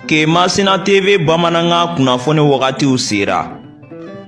Kemasina TV bamanankan kunnafoni wagatiw sera.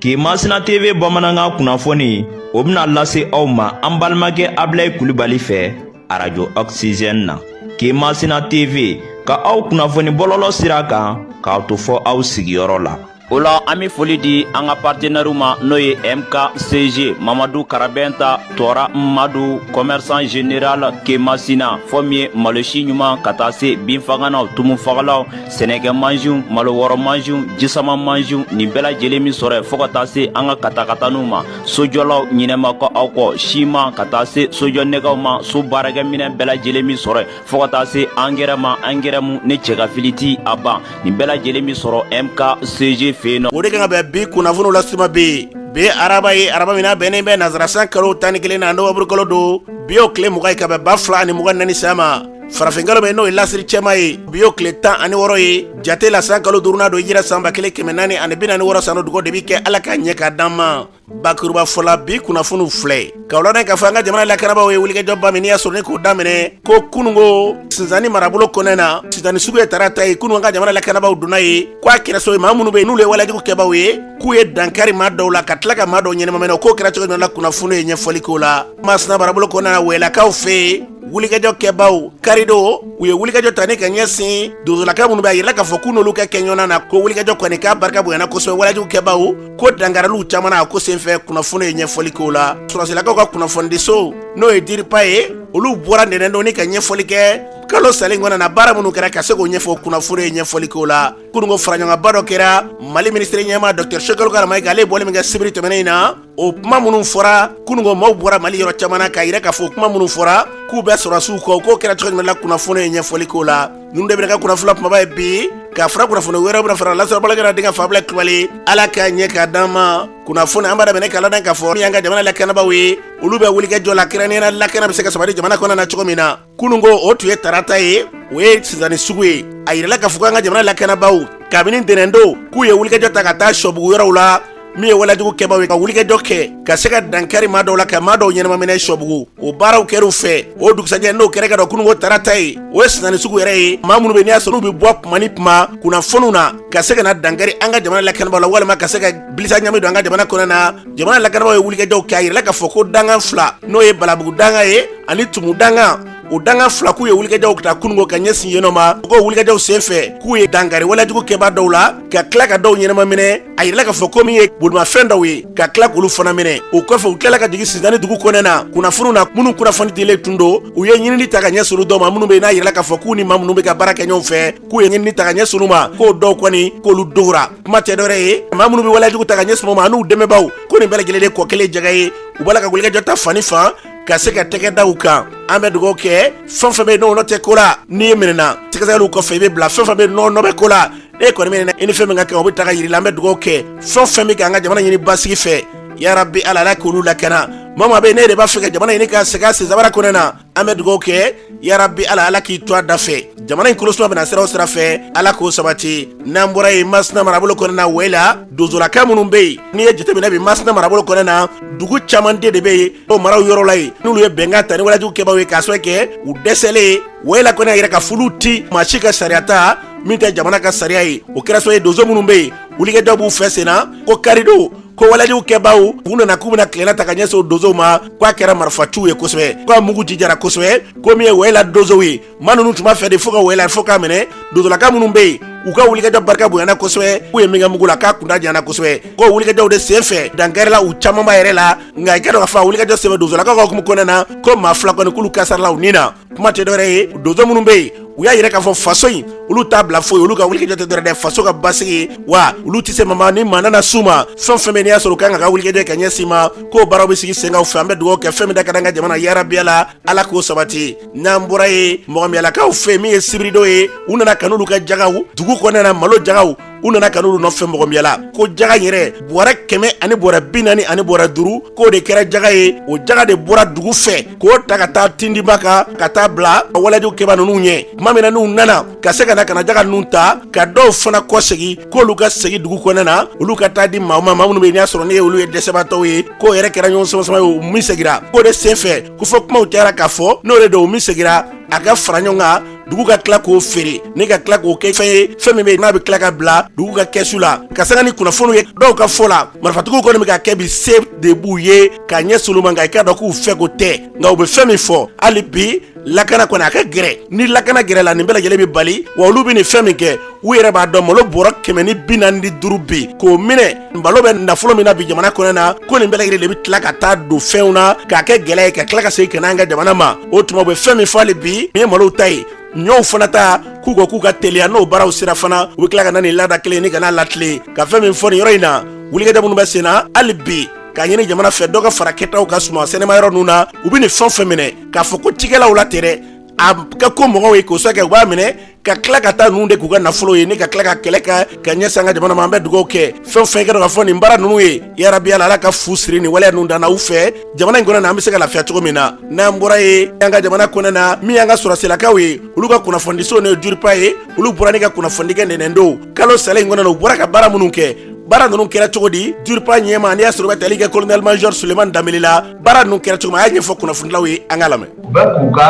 Kemasina TV bamanankan kunnafoni o bɛna lase aw ma an balimakɛ Abilayi Kulibali fɛ arajo Oxygène na. Kemasina TV ka aw kunnafoni bɔlɔlɔ sira kan k'a to fɔ aw sigiyɔrɔ la. o la an be foli di an ka partenɛriw ma n'o ye mkcg mamadu karabɛnta tɔɔra madu kɔmɛrisan general kemasina fɔ min ye malosi ɲuman ka taa se binfaganaw tumufagalaw sɛnɛkɛ mansiw malo wɔrɔ mansiw jisama mansiw nin bɛɛ lajɛlen bɛ sɔrɔ yen fɔɔ ka taa se an ka katakataniw ma sojɔlaw ɲinɛ ma kɛ aw kɔ siman ka taa se sojɔ nɛgɛw ma so baarakɛminɛ bɛɛ lajɛlen bɛ sɔrɔ yen fɔɔ ka taa se angɛrɛ ma angɛrɛ mu ni cɛgafili ti a ban nin bɛɛ lajɛlen be sɔrɔ mkcg fɛ yen nɔ o de kan ka bɛn bi kunnafoniw lase tuma bi ye araba ye araba min na bɛnnen bɛ nazara san kalo tan ni kelennan nɔwanburukalo don bi y'o kile mugan ye ka bɛn ba fila ani mugan naani san ya ma farafinkalo min n'o ye lasiri cɛma ye bi y'o kile tan ani wɔɔrɔ ye jate la san kalo duurunan don hijira san ba kelen kɛmɛ naani ani bi naani wɔɔrɔ sano dugo de bɛ kɛ ala k'a ɲɛ k'a d'an ma bakuruba fɔla bi kunnafoniw filɛ k'aw ladan k'a fɔ an ka jamana lakanabaaw ye wulikajɔba min n'i y'a sɔrɔ ne k'o daminɛ ko kunungo sinzani marabolo kɔnɛ na sinzani sugu ye tarata ye kunu an ka jamana lakanabaaw donna yen ko a kɛrɛso ye maa minnu bɛ yen n'olu ye walejugu kɛbaaw ye k'u ye dankari maa dɔw la ka tila ka maa dɔw ɲɛnamaminɛ o ko kɛra cogo jumɛn la kunnafoni ye ɲɛfɔli k'o la masina marabolo kɔnɛ na wɛlɛkaw fɛ yen wulikajɔ kɛbaaw karido u ye wulikajɔ ta ni ka ɲɛsin dugulaka minnu bɛ a yirala k'a fɔ k'u n'olu ka kɛ ɲɔgɔnna na ko wulikajɔ kɔni k'a barika bonyana kosɛbɛ walejugu kɛbaaw ko dankariliw caman na a ko senfɛ kunnafoni ye ɲɛfɔli kɛ o la sɔrɔsilakaw ka kunnafonidiso n'o ye diripa ye olu bɔra ntɛnɛndon in ka ɲɛfɔli kɛ kalo salen kɔnɔ na baara minnu kɛra ka se k'o ɲɛfɔ kunnafoni ye ɲɛfɔli k'o la kununko faraɲɔgɔnba dɔ kɛra mali minisiriɲɛmaa dɔkitɛr shogɛl kokala mayiga ale bɔli min kɛ sibiri tɛmɛnen in na o kuma minnu fɔra kununko maaw bɔra mali yɔrɔ caman na k'a yira k'a fɔ kuma minnu fɔra k'u bɛ sɔrɔsiw kɔ k'o kɛra cogo jumɛn la kunnafoni ye ɲɛfɔli k'o la ninnu de bɛna kɛ kunnafoni kumaba ye bi ka fara kunnafoni wɛrɛw bɛna fara lasɔrɔbala kana denkɛ fa abilayi kulubali ala k'a ɲɛ k'a d'an ma kunnafoni an b'a daminɛ k'a ladan k'a fɔ min y'an ka jamana lakanabaaw ye olu bɛ wulikajɔ la kɛrɛnkɛrɛnnenya lakana bɛ se ka sabati jamana kɔnɔna na cogo min na kununko o tun ye tarata ye o ye sinzani sugu ye a yirala k'a fɔ k'an ka jamana lakanabaaw kabini ntɛnɛndo k'u ye wulikajɔ ta ka taa sɔbugu yɔrɔw la min ye walejugu kɛbaaw ye ka wulikɛjɔ kɛ ka se ka dankari maa dɔw la ka maa dɔw ɲɛnamaminɛ sɔbugu o baaraw kɛr'u fɛ o dugusajɛ n'o kɛra ka dɔ kununko tarata ye o ye sinzani sugu yɛrɛ ye maa minnu bɛ n'i y'a sɔrɔ u bɛ bɔ kuma ni kuma kunnafoniw na ka se ka na dankari an ka jamana lakanabaaw la walima ka se ka bilisa ɲami don an ka jamana kɔnɔ na jamana lakanabaaw ye wulikɛjɔw kɛ a yirala k'a fɔ ko dangan fila n'o ye balabugu danga ye ani tumu danga o danga fila k'u ye wulikajɔw ta kununko ka ɲɛsin yenɔ ma k'o wulikajɔw sen fɛ k'u ye dankari walejugu kɛbaa dɔw la ka tila ka dɔw ɲɛnama minɛ a yirila k'a fɔ ko min ye bolimafɛn dɔw ye ka tila k'olu fana minɛ o kɔfɛ u tilala ka jigin sidani dugu kɔnɔna kunnafoniw na minnu kunnafoni dilen tun don u ye ɲinini ta ka ɲɛsin olu dɔw ma minnu bɛ n'a yirila k'a fɔ k'u ni maa minnu bɛ ka baara kɛ ɲɔgɔn fɛ k'u ye ɲinini ta ka ɲɛsin olu ma k'o dɔw kɔni k'olu dogora kuma tɛ dɔwɛrɛ ye maa minnu bɛ walejugu ta ka ɲɛsin maa ma an'u dɛmɛbaaw ko nin bɛɛ lajɛlen de kɔ kelen jɛgɛ ye u b'a la ka wulikajɔ ta fan ni fan ka se ka tɛgɛ da u kan an bɛ dugawu kɛ fɛn fɛn bɛ n'i nɔ tɛ ko la n'i minɛna sɛgɛsɛgɛliw kɔfɛ i bɛ bila fɛn fɛn bɛ n'i nɔ bɛ ko la n'e kɔni minɛna i ni fɛn min ka kan o bɛ ta ka yir'i la an bɛ dugawu kɛ fɛn fɛn bɛ k'an ka jamana ɲini basigi fɛ yarabi ala ala k'olu lakana maa maa bɛ n'e de b'a fɛ ka jamana ɲini ka segin a sensabara kɔnɔna an bɛ dugawu kɛ yarabi ala ala k'i to a da fɛ jamana in kolosuma bɛna sira o sira fɛ ala k'o sabati n'an bɔra yen masina marabolo kɔnɔna wɛla donsolaka minnu bɛ yen n'i ye jateminɛ bi masina marabolo kɔnɔna dugu caman de de bɛ yen o marayɔrɔ la yen n'olu ye bɛnkan ta ni walejugu kɛbaaw ye k'a sabu kɛ u dɛsɛlen ye wayila kɔni y'a yira k'a f'olu tɛ maa si ka sariya ta min tɛ jamana ka sariya ye o kɛra sabu ye donso minnu bɛ yen wulikajɔw b'u fɛ senna ko karidon ko walejugu kɛbaaw u nana k'u bɛna tilenna ta ka ɲɛsin o donsow ma ko a kɛra marifaciw ye kosɛbɛ ko a mugu jijara kosɛbɛ ko min ye wayila donsow ye maa ninnu tun b'a fɛ de fo ka wɛla fo k'a minɛ donsolaka minnu bɛ yen u ka wulikajɔ barika bonyana kosɛbɛ k'u ye min kɛ mugu la k'a kuntaa janyana kosɛbɛ k'o wulikajɔw de sen fɛ dankarila u camanba yɛrɛ la nka i k'a dɔn k'a fɔ a wulikajɔ sen fɛ donsolakaw ka hukumu kɔnɔna na ko maa fila kɔni k'olu kasarala u ni na kuma tɛ dɔwɛrɛ ye donso minnu bɛ yen u y'a yira k'a fɔ faso in olu t'a bila foyi olu ka wulikajɔ tɛ dɔwɛrɛ dɛ faso ka basigi wa olu tɛ se maa ma ni maa nana s'u ma fɛn fɛn bɛ n'i y'a sɔrɔ u kan ka ka wulikajɔ kɛ ɲɛsin ma k'o baaraw bɛ sigi sen kan u fɛ an bɛ dugawu kɛ fɛn min da ka d'an ka jamana yarabi ala ala k'o sabati n'an bɔra yen mɔgɔmiyalakaw fɛ min ye sibiridon ye u nana ka n'olu ka jagaw dugu kɔnɔna malo jagaw u nana ka n'olu nɔfɛ mɔgɔmiyala ko jaga yɛrɛ bɔrɛ kɛmɛ ani bɔrɛ bi naani ani bɔrɛ duru k'o de kɛra jaga ye o jaga de bɔra dugu fɛ k'o ta ka taa tindiba kan ka taa bila walejugu kɛbaa ninnu ɲɛ tuma min na n'u nana ka se ka na ka na jaga ninnu ta ka dɔw fana kɔsegin k'olu ka segin dugu kɔnɔna na olu ka t'a di maa ma maa minnu bɛ yen n'i y'a sɔrɔ ne ye olu ye dɛsɛbaatɔw ye k'o yɛrɛ kɛra ɲɔgɔn samasama ye o min segira k'o de senfɛ ko fɔ kumaw cayara k'a fɔ n'o de don o min segira a ka fara ɲɔgɔn kan dugu ka tila k'o feere ni ka tila k'o kɛ fɛn ye fɛn min bɛ n'a bɛ tila ka bila dugu ka kɛsu la ka sanga ni kunnafoniw ye dɔw ka fɔ la marifatigiw kɔni bɛ ka kɛ bi se de b'u ye ka ɲɛsin olu ma nka i k'a dɔn k'u fɛ ko tɛ nka u bɛ fɛn min fɔ hali bi lakana kɔni a ka gɛrɛ ni lakana gɛrɛla nin bɛɛ lajɛlen bɛ bali wa olu bɛ nin fɛn min kɛ u yɛrɛ b'a dɔn malo bɔrɔ kɛmɛ ni bi naani ni duuru bi k'o minɛ malo bɛ nafolo min na bi jamana kɔnɔ na ko nin bɛɛ lajɛlen de bɛ tila ka taa don fɛnw na k'a kɛ gɛlɛ ye ka tila ka segin ka n'an ka jamana ma o tuma u bɛ fɛn min fɔ hali bi nin ye malo ta ye ɲɔw fana ta k'u ka k'u ka teliya n'o baaraw sera fana u bɛ tila ka na nin laada kelen ni ka n'a latilen ka fɛn min fɔ nin yɔrɔ in na wulikajɔ minnu bɛ sen na hali bi k'a ɲini jamana fɛ dɔ ka fara kɛtaw kan suman sɛnɛma yɔrɔ ninnu na u bɛ nin fɛn fɛn minɛ k'a fɔ ko cikɛlaw la tɛ dɛ a ka ko mɔgɔw ye k'o sɔrɔ kɛ u b'a minɛ ka tila ka taa ninnu de k'u ka nafolo ye ni ka tila ka kɛlɛ ka ka ɲɛsin an ka jamana ma an bɛ dugawu kɛ fɛn fɛn kɛra ka fɔ nin baara ninnu ye yarabi ala ala ka fu siri nin waleya ninnu dan na u fɛ jamana in kɔnɔ na an bɛ se ka lafiya cogo min na n'an bɔra yen an ka jamana kɔnɔ na min y'an ka sɔrɔsilakaw ye olu ka kunnafonidiso n'o ye DIRPA ye olu bɔra ni ka kunnafonidi kɛ ntɛnɛndon kalo salen in kɔnɔ na u bɔra ka baara minnu kɛ baara ninnu kɛra cogo di DIRPA ɲɛmaa n'i y'a sɔrɔ o bɛ tali kɛ kolonɛli majɔri suleman danbele la baara ninnu kɛra cogo min a y'a ɲɛfɔ kunnafonilaw ye an k'a lamɛn u bɛ k'u ka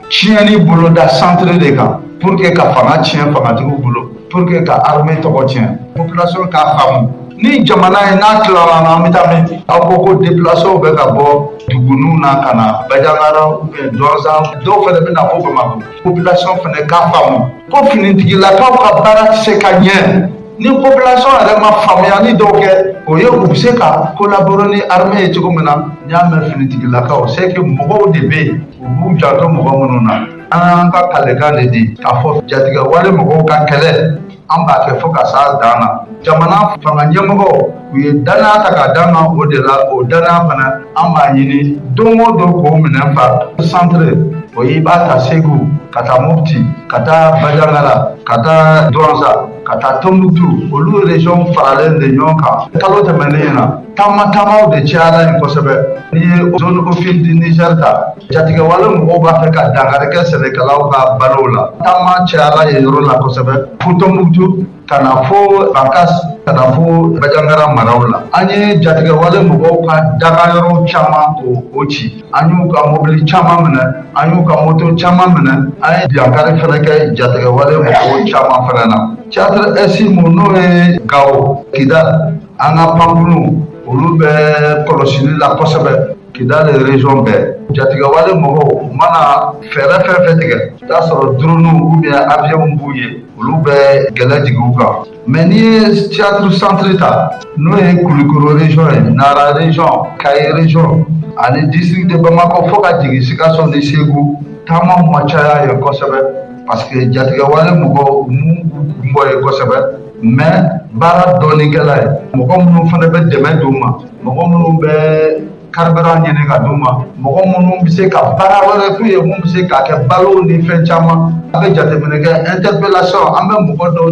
tiɲɛni boloda centre de kan pour que ka fanga tiɲɛ fangatigiw bolo pour que ka armée tɔgɔ tiɲɛ population k'a faamu ni jamana ye n'a tilara na an bɛ taa min aw ko ko déplacéw bɛ ka bɔ duguninw na ka na bajangara ou bien Douentza dɔw fana bɛ na fo bamakɔ population fana k'a faamu ko finitigilakaw ka baara tɛ se ka ɲɛ ni population yɛrɛ ma faamuyali dɔw kɛ o ye u bɛ se ka collaborer ni armée ye cogo min na n'i y'a mɛn finitigilakaw c'est que mɔgɔw de bɛ yen u b'u janto mɔgɔ minnu na an y'an ka kalikan de di k'a fɔ jatigɛwale mɔgɔw ka kɛlɛ an b'a kɛ fo ka s'a dan na jamana fanga ɲɛmɔgɔw u ye dannaya ta k'a d'an kan o de la o dannaya fana an b'a ɲini don o don k'o minɛn fa centre o ye i b'a ta segu ka taa mopti ka taa bajangara ka taa Douentza ka taa Tombouctou olu région faralen de ɲɔgɔn kan kalo tɛmɛnen na taama taamaw de cayara yen kosɛbɛ n'i ye zone Office du Niger ta jatigɛwale mɔgɔw b'a fɛ ka dankari kɛ sɛnɛkɛlaw ka balow la taama cayara yen yɔrɔ la kosɛbɛ fo Tombouctou ka na fo Bankass ka na fo Bajangara maraw la an ye jatigɛwale mɔgɔw ka dagayɔrɔ caman o ci an y'u ka mobili caman minɛ an y'u ka moto caman minɛ an ye dankari fana kɛ jatigɛwale mɔgɔw caman fana na théâtre Est min n'o ye Gao kidal an ka pankurunw olu bɛ kɔlɔsili la kosɛbɛ kidal région bɛɛ jatigɛwale mɔgɔw u mana fɛɛrɛ fɛn fɛn tigɛ i t'a sɔrɔ dronew ou bien avionw b'u ye olu bɛ gɛlɛ jigin u kan mais n'i ye théâtre centre ta n'o ye kulikɔrɔ région ye nara région Kayes région ani district de bamakɔ fo ka jigin sikaso ni segu taama ma caya yen kosɛbɛ parce que jatigɛwale mɔgɔw m'u kun bɔ yen kosɛbɛ mais baara dɔɔnin kɛra yen mɔgɔ minnu fana bɛ dɛmɛ don u ma mɔgɔ minnu bɛ Carburant ɲini ka d'u ma mɔgɔ minnu bɛ se ka baara wɛrɛ k'u ye min bɛ se ka kɛ balo ni fɛn caman a bɛ jateminɛ kɛ interpellation an bɛ mɔgɔ dɔ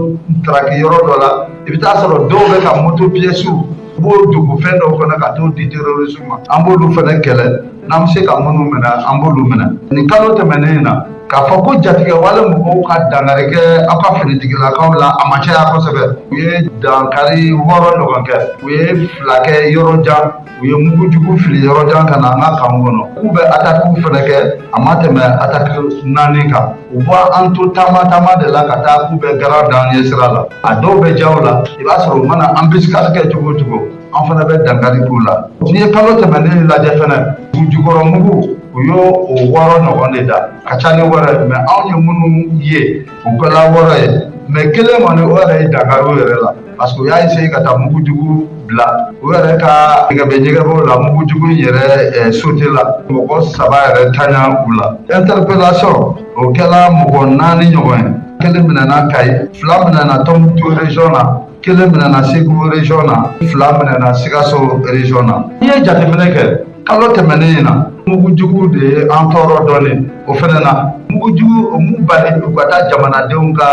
traki yɔrɔ dɔ la i bɛ t'a sɔrɔ dɔw bɛ ka moto piyɛsiw u b'o dogo fɛn dɔw kɔnɔ ka t'o di terorisiw ma an b'olu fana kɛlɛ n'an bɛ se ka minnu minɛ an b'olu minɛ nin kalo tɛmɛnen in na k'a fɔ ko jatigɛwale mɔgɔw ka dankari kɛ aw ka finitigilakaw la a ma caya kosɛbɛ u ye dankari wɔɔrɔ ɲɔgɔn kɛ u ye fila kɛ yɔrɔ jan u ye mugujugu fili yɔrɔ jan ka na an ka kan kɔnɔ k'u bɛ atakiw fana kɛ a ma tɛmɛ ataki naani kan u b'an to taama taama de la ka taa k'u bɛ garan da an ɲɛ sira la a dɔw bɛ jaw la i b'a sɔrɔ u mana embuscade kɛ cogo o cogo an fana bɛ dankari k'u la n'i ye kalo tɛmɛnen lajɛ fana dugujukɔrɔ mugu u y'o wɔɔrɔ ɲɔgɔn de da ka ca ni wɛrɛ mɛ anw ye minnu ye o kɛla wɔɔrɔ ye mɛ kelen kɔni u yɛrɛ ye dankari u yɛrɛ la parce que u y'a essaye ka taa mugujugu bila u yɛrɛ ka ɲɛgɛbɛ ɲɛgɛbɛw la mugujugu in yɛrɛ sotela mɔgɔ saba yɛrɛ tanya u la interpellation o kɛla mɔgɔ naani ɲɔgɔn ye kelen minɛna kayi fila minɛna tɔmbukutu region na kelen minɛna segu region na fila minɛna sikaso region na n'i ye jateminɛ kɛ kalo tɛmɛnen in na mugujugu de ye an tɔɔrɔ dɔɔnin o fana na mugujugu o m'u bali u ka taa jamanadenw ka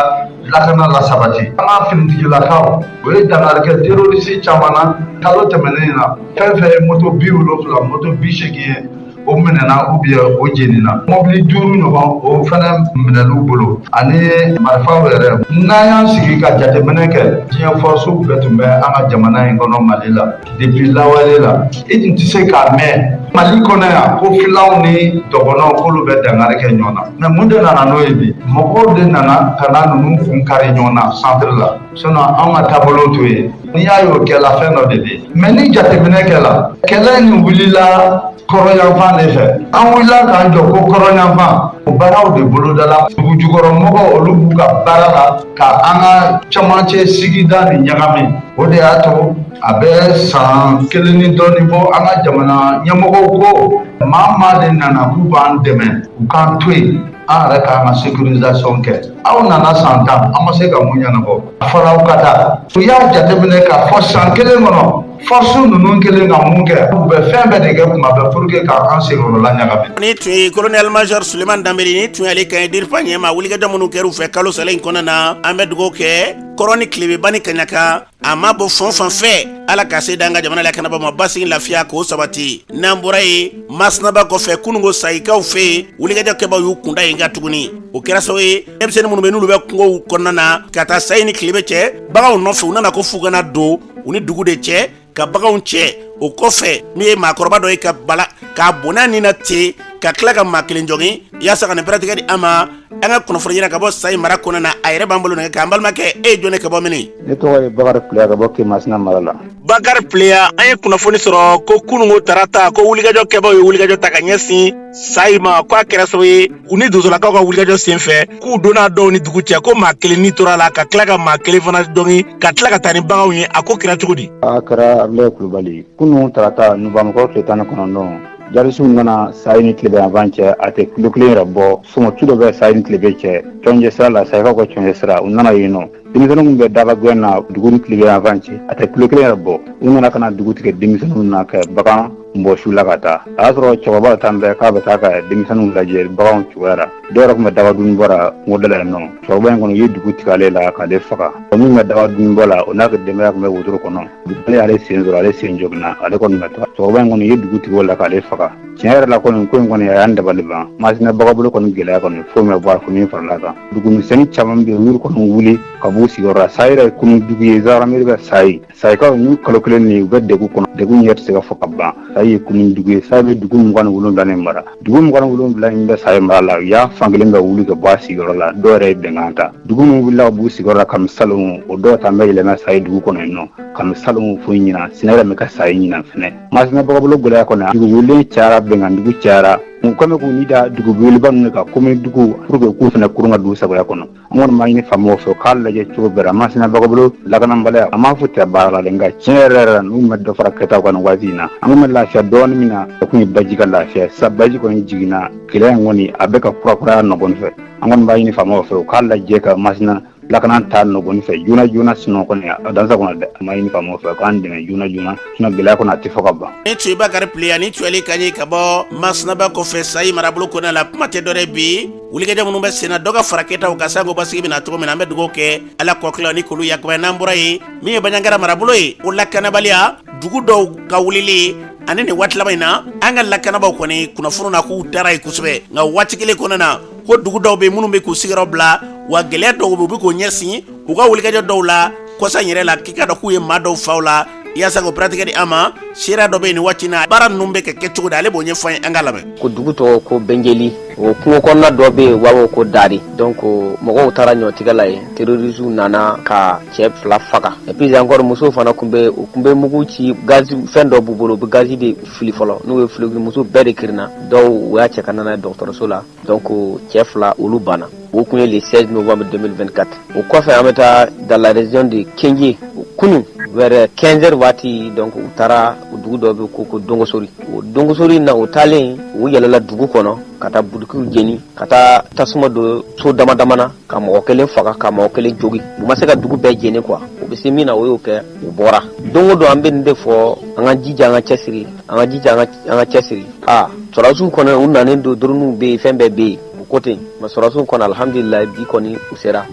lakana lasabati an ka finitigilakaw u ye dankari kɛ terorisi caman na kalo tɛmɛnen in na fɛn fɛn ye moto bi wolonfila moto bi seegin ye o minɛna ou bien o jenina mɔbili duuru ɲɔgɔn o fɛnɛ minɛn'u bolo ani marifaw yɛrɛ n'an y'an sigi ka jateminɛ kɛ diɲɛ fɔrɔsiw bɛɛ tun bɛ an ka jamana in kɔnɔ mali la Depuis lawale la i tun tɛ se k'a mɛn mali kɔnɔ yan ko filaw ni dɔgɔnɔw k'olu bɛ dankari kɛ ɲɔgɔn na mɛ mun de nana n'o ye bi mɔgɔw de nana ka na ninnu kun kari ɲɔgɔn na centre la sinon anw ka taabolo t'o ye n'i y'a ye o kɛla fɛn dɔ de bɛ yen mɛ ni jateminɛ kɛla kɛlɛ nin wulila kɔrɔyanfan de fɛ an wulila k'an jɔ ko kɔrɔyanfan o baaraw de bolodala dugujukɔrɔmɔgɔw olu b'u ka baara la ka an ka camancɛ sigida nin ɲagami o de y'a to a bɛ san kelen ni dɔɔnin bɔ an ka jamana ɲɛmɔgɔw ko maa maa de nana k'u b'an dɛmɛ u k'an to yen an yɛrɛ k'an ka sécurisation kɛ aw nana san tan an ma se ka mun ɲɛnabɔ a fɔra aw ka taa u y'a jateminɛ k'a fɔ san kelen kɔnɔ fɔrɔsi ninnu kelen ka mun kɛ u bɛ fɛn bɛɛ de kɛ kuma bɛɛ pour que ka an senkɔrɔla ɲagami nin tun ye colonel major suleman danbɛlɛ nin tun y'ale kan ye dirpa ɲɛmaa wulikajɔ minnu kɛr'u fɛ kalo salen in kɔnɔna na an bɛ dugawu kɛ kɔrɔn ni tilebe ba ni kaɲaka a ma bɔ fan fan fɛ ala ka se d'an ka jamana lakanabaa ma basigi lafiya k'o sabati n'an bɔra yen masina ba kɔfɛ kunungo sayikaw fɛ yen wulikajɔ kɛbaw y'u kunda yen kan tuguni o kɛra sababu ye denmisɛnnin minnu bɛ n'olu bɛ kungow kɔnɔna na ka taa sayi ni tilebe cɛ baganw nɔfɛ u nana ko f'u kana don u ni dugu de cɛ ka baganw cɛ o kɔfɛ min ye maakɔrɔba dɔ ye ka bala k'a bɔnɛ a ni na ten ka tila ka maa kelen jogin yaasa ka nin pɛrɛtigɛ di an ma an ka kunnafoni ɲinina ka bɔ sayi mara kɔnɔna na a yɛrɛ b'an bolo nɛgɛ kan balimakɛ e ye jɔn ka bɔ mini ne tɔgɔ ye bakari pileya ka bɔ kemasina mara la bakari pileya an ye kunnafoni sɔrɔ ko kununko tarata ko wulikajɔ kɛbaaw ye wulikajɔ ta ka ɲɛsin sayi ma ko a kɛra sababu ye u ni donsolakaw ka wulikajɔ sen fɛ k'u donna dɔw ni dugu cɛ ko maa kelen ni tora a la ka tila ka maa kelen fana jogin ka tila ka taa ni baganw ye a ko kɛra cogo di a kɛra abulayi kulubali kunu tarata nowanburukalo tile tan ni kɔnɔntɔn jihadisiw nana sayi ni tilebe yanfan cɛ a tɛ kilo kelen yɛrɛ bɔ sɔmɔ tu dɔ bɛ sayi ni tilebe cɛ cɔnjɛ sira la sayikaw ka cɔnjɛ sira u nana yen nɔ denmisɛnninw bɛ daaba gɛn na dugu ni tilebe yanfan cɛ a tɛ kilo kelen yɛrɛ bɔ u nana ka na dugu tigɛ denmisɛnninw na ka bagan bɔsi u la ka taa a y'a sɔrɔ cɛkɔrɔba taalen bɛ k'a bɛ taa ka denmisɛnninw lajɛ baganw cogoya la dɔw yɛrɛ tun bɛ daaba dunni bɔ la kungo da la yen nɔ cɛkɔrɔba in kɔni u ye dugu tigɛ ale la k'ale faga o min bɛ daaba dunni bɔ la o n'a ka denbaya tun bɛ wotoro kɔnɔ ale y'ale sen sɔrɔ ale sen joginna ale kɔni bɛ taa cɛkɔrɔba in kɔni u ye dugu tigɛ o la k'ale faga tiɲɛ yɛrɛ la kɔni ko in kɔni a y'an dabali ban masina bakɔ bolo kɔni gɛlɛya kɔni foyi ma bɔ a commune farala kan dugumisɛnni caman bɛ yen olu kɔni wuli ka b'u sigiyɔrɔ la sayi yɛrɛ ye commune dugu ye gendarmerie bɛ sayi sayikaw n'u kalo kelen nin u bɛ dɛgun kɔnɔ dɛgun yɛrɛ tɛ se ka fɔ ka ban sayi ye commune dugu ye sayi bɛ dugu mugan ni wolonwula nin mara dugu mugan ni wolonwula in bɛ sayi mara la u y'a fan kelen bɛɛ wuli ka bɔ a sigiyɔrɔ la dɔw yɛrɛ ye bɛnkan ta dugu minnu wulila ka b'u sigiyɔrɔ la kami salon o dɔw ta bɛ yɛlɛmɛ sayi dugu kɔnɔ yen nɔ kami salon fo ɲinan sinɛ yɛrɛ bɛ ka sayi ɲinan fɛnɛ Masina bakɔ bolo gɛlɛya kɔnɔ dugu wulilen cayara bɛnkan dugu cayara u kɛlen k'u ni da duguba ninnu kan commune dugu pour que k'u fana kurun ka dugu sa kɔnɔ an kɔni b'a ɲini faamaw fɛ k'a lajɛ cogo bɛɛ la masina bakɔ bolo lakanabaliya a m'a fɔ u tɛ baara la nka tiɲɛ yɛrɛ yɛrɛ la n'u ma dɔ fara kɛtaw kan nin waati in na an tun bɛ lafiya dɔɔnin min na o tun ye baji ka lafiya sa baji kɔni jiginna gɛlɛya in kɔni a bɛ ka kurakuraya nɔgɔni fɛ an kɔni b'a ɲini faamaw fɛ u k'a lajɛ ka masina lakana ta nɔgɔni fɛ joona joona sinon kɔni a dansa kɔnɔ dɛ an b'a ɲini faamaw fɛ k'an dɛmɛ joona joona sinon gɛlɛya kɔni a tɛ fɔ ka ban nin tun ye bakari pileya ni cli ka ɲi ka bɔ masina ba kɔfɛ sayi marabolo kɔnɔna la kuma tɛ dɔ wɛrɛ bi wulikajɔ minnu bɛ senna dɔ ka fara kɛtaw kan sanko basigi bɛna na cogo min na an bɛ dugawu kɛ ala kɔkila ni kulu yakubaya n'an bɔra yen min ye banjagara marabolo ye o lakanabaliya dugu dɔw ka wulili ani nin waati laban in na an ka lakanabaw kɔni kunnafoni na k'u taara ɲɛ kosɛbɛ nka waati kelen kɔnɔna na ko dugu dɔw bɛ minnu bɛ k'u sigiyɔrɔ bila wa gɛlɛya dɔw bɛ u bɛ k'o ɲɛsin u ka wulikajɔ dɔw la kɔsa yɛrɛ la k'i k'a dɔn k'u ye maa dɔw faga u la yaasa k'o pɛrɛtigɛ di an ma seereya dɔ bɛ yen nin waati na baara ninnu bɛ ka kɛ cogo di ale b'o ɲɛfɔ an ye an k'a lamɛn ko dugu tɔgɔ ko bɛnjeli o kungo kɔnɔna dɔ bɛ yen u b'a fɔ ko dari donc mɔgɔw taara ɲɔtigɛ la yen terroriste nana ka cɛ fila faga et puis encore musow fana tun bɛ u tun bɛ mugu ci gaz fɛn dɔ b'u bolo u bɛ gaz de fili fɔlɔ n'u ye fili muso bɛɛ de kirinna dɔw u y'a cɛ ka nana dɔgɔtɔrɔso la donc cɛ fila olu banna o kun ye le 16 novembre 2024 o kɔfɛ an bɛ taa dans la région de Kendié kunun vers 15 heures waati donc u taara u dugu dɔ bɛ ko ko Dongosori o Dongosori na u taalen u yɛlɛla dugu kɔnɔ ka taa butikiw jeni ka taa tasuma don so damadama na ka mɔgɔ kelen faga ka mɔgɔ kelen jogin u ma se ka dugu bɛɛ jeni quoi u bɛ se min na u y'o kɛ u bɔra don o don an bɛ nin de fɔ an ka jija an ka cɛsiri an ka jija an ka cɛsiri aa sɔrɔdasiw kɔni u nanen don drone bɛ yen fɛn bɛɛ bɛ yen u ko ten mais sɔrɔdasiw kɔni alhamdulilayi bi kɔni u sera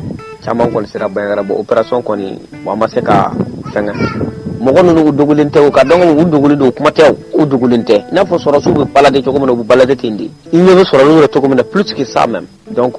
caman kɔni sera Bandiagara bon opération kɔni bon an ma se ka fɛngɛ mɔgɔ ninnu u dogolen tɛ u ka dɔn u dogolen don o kuma tɛ u dogolen tɛ i n'a fɔ sɔrɔdasiw bɛ balade cogo min na u bɛ balade ten de i ɲɛ bɛ sɔrɔdasiw la cogo min na plus que ça même Donc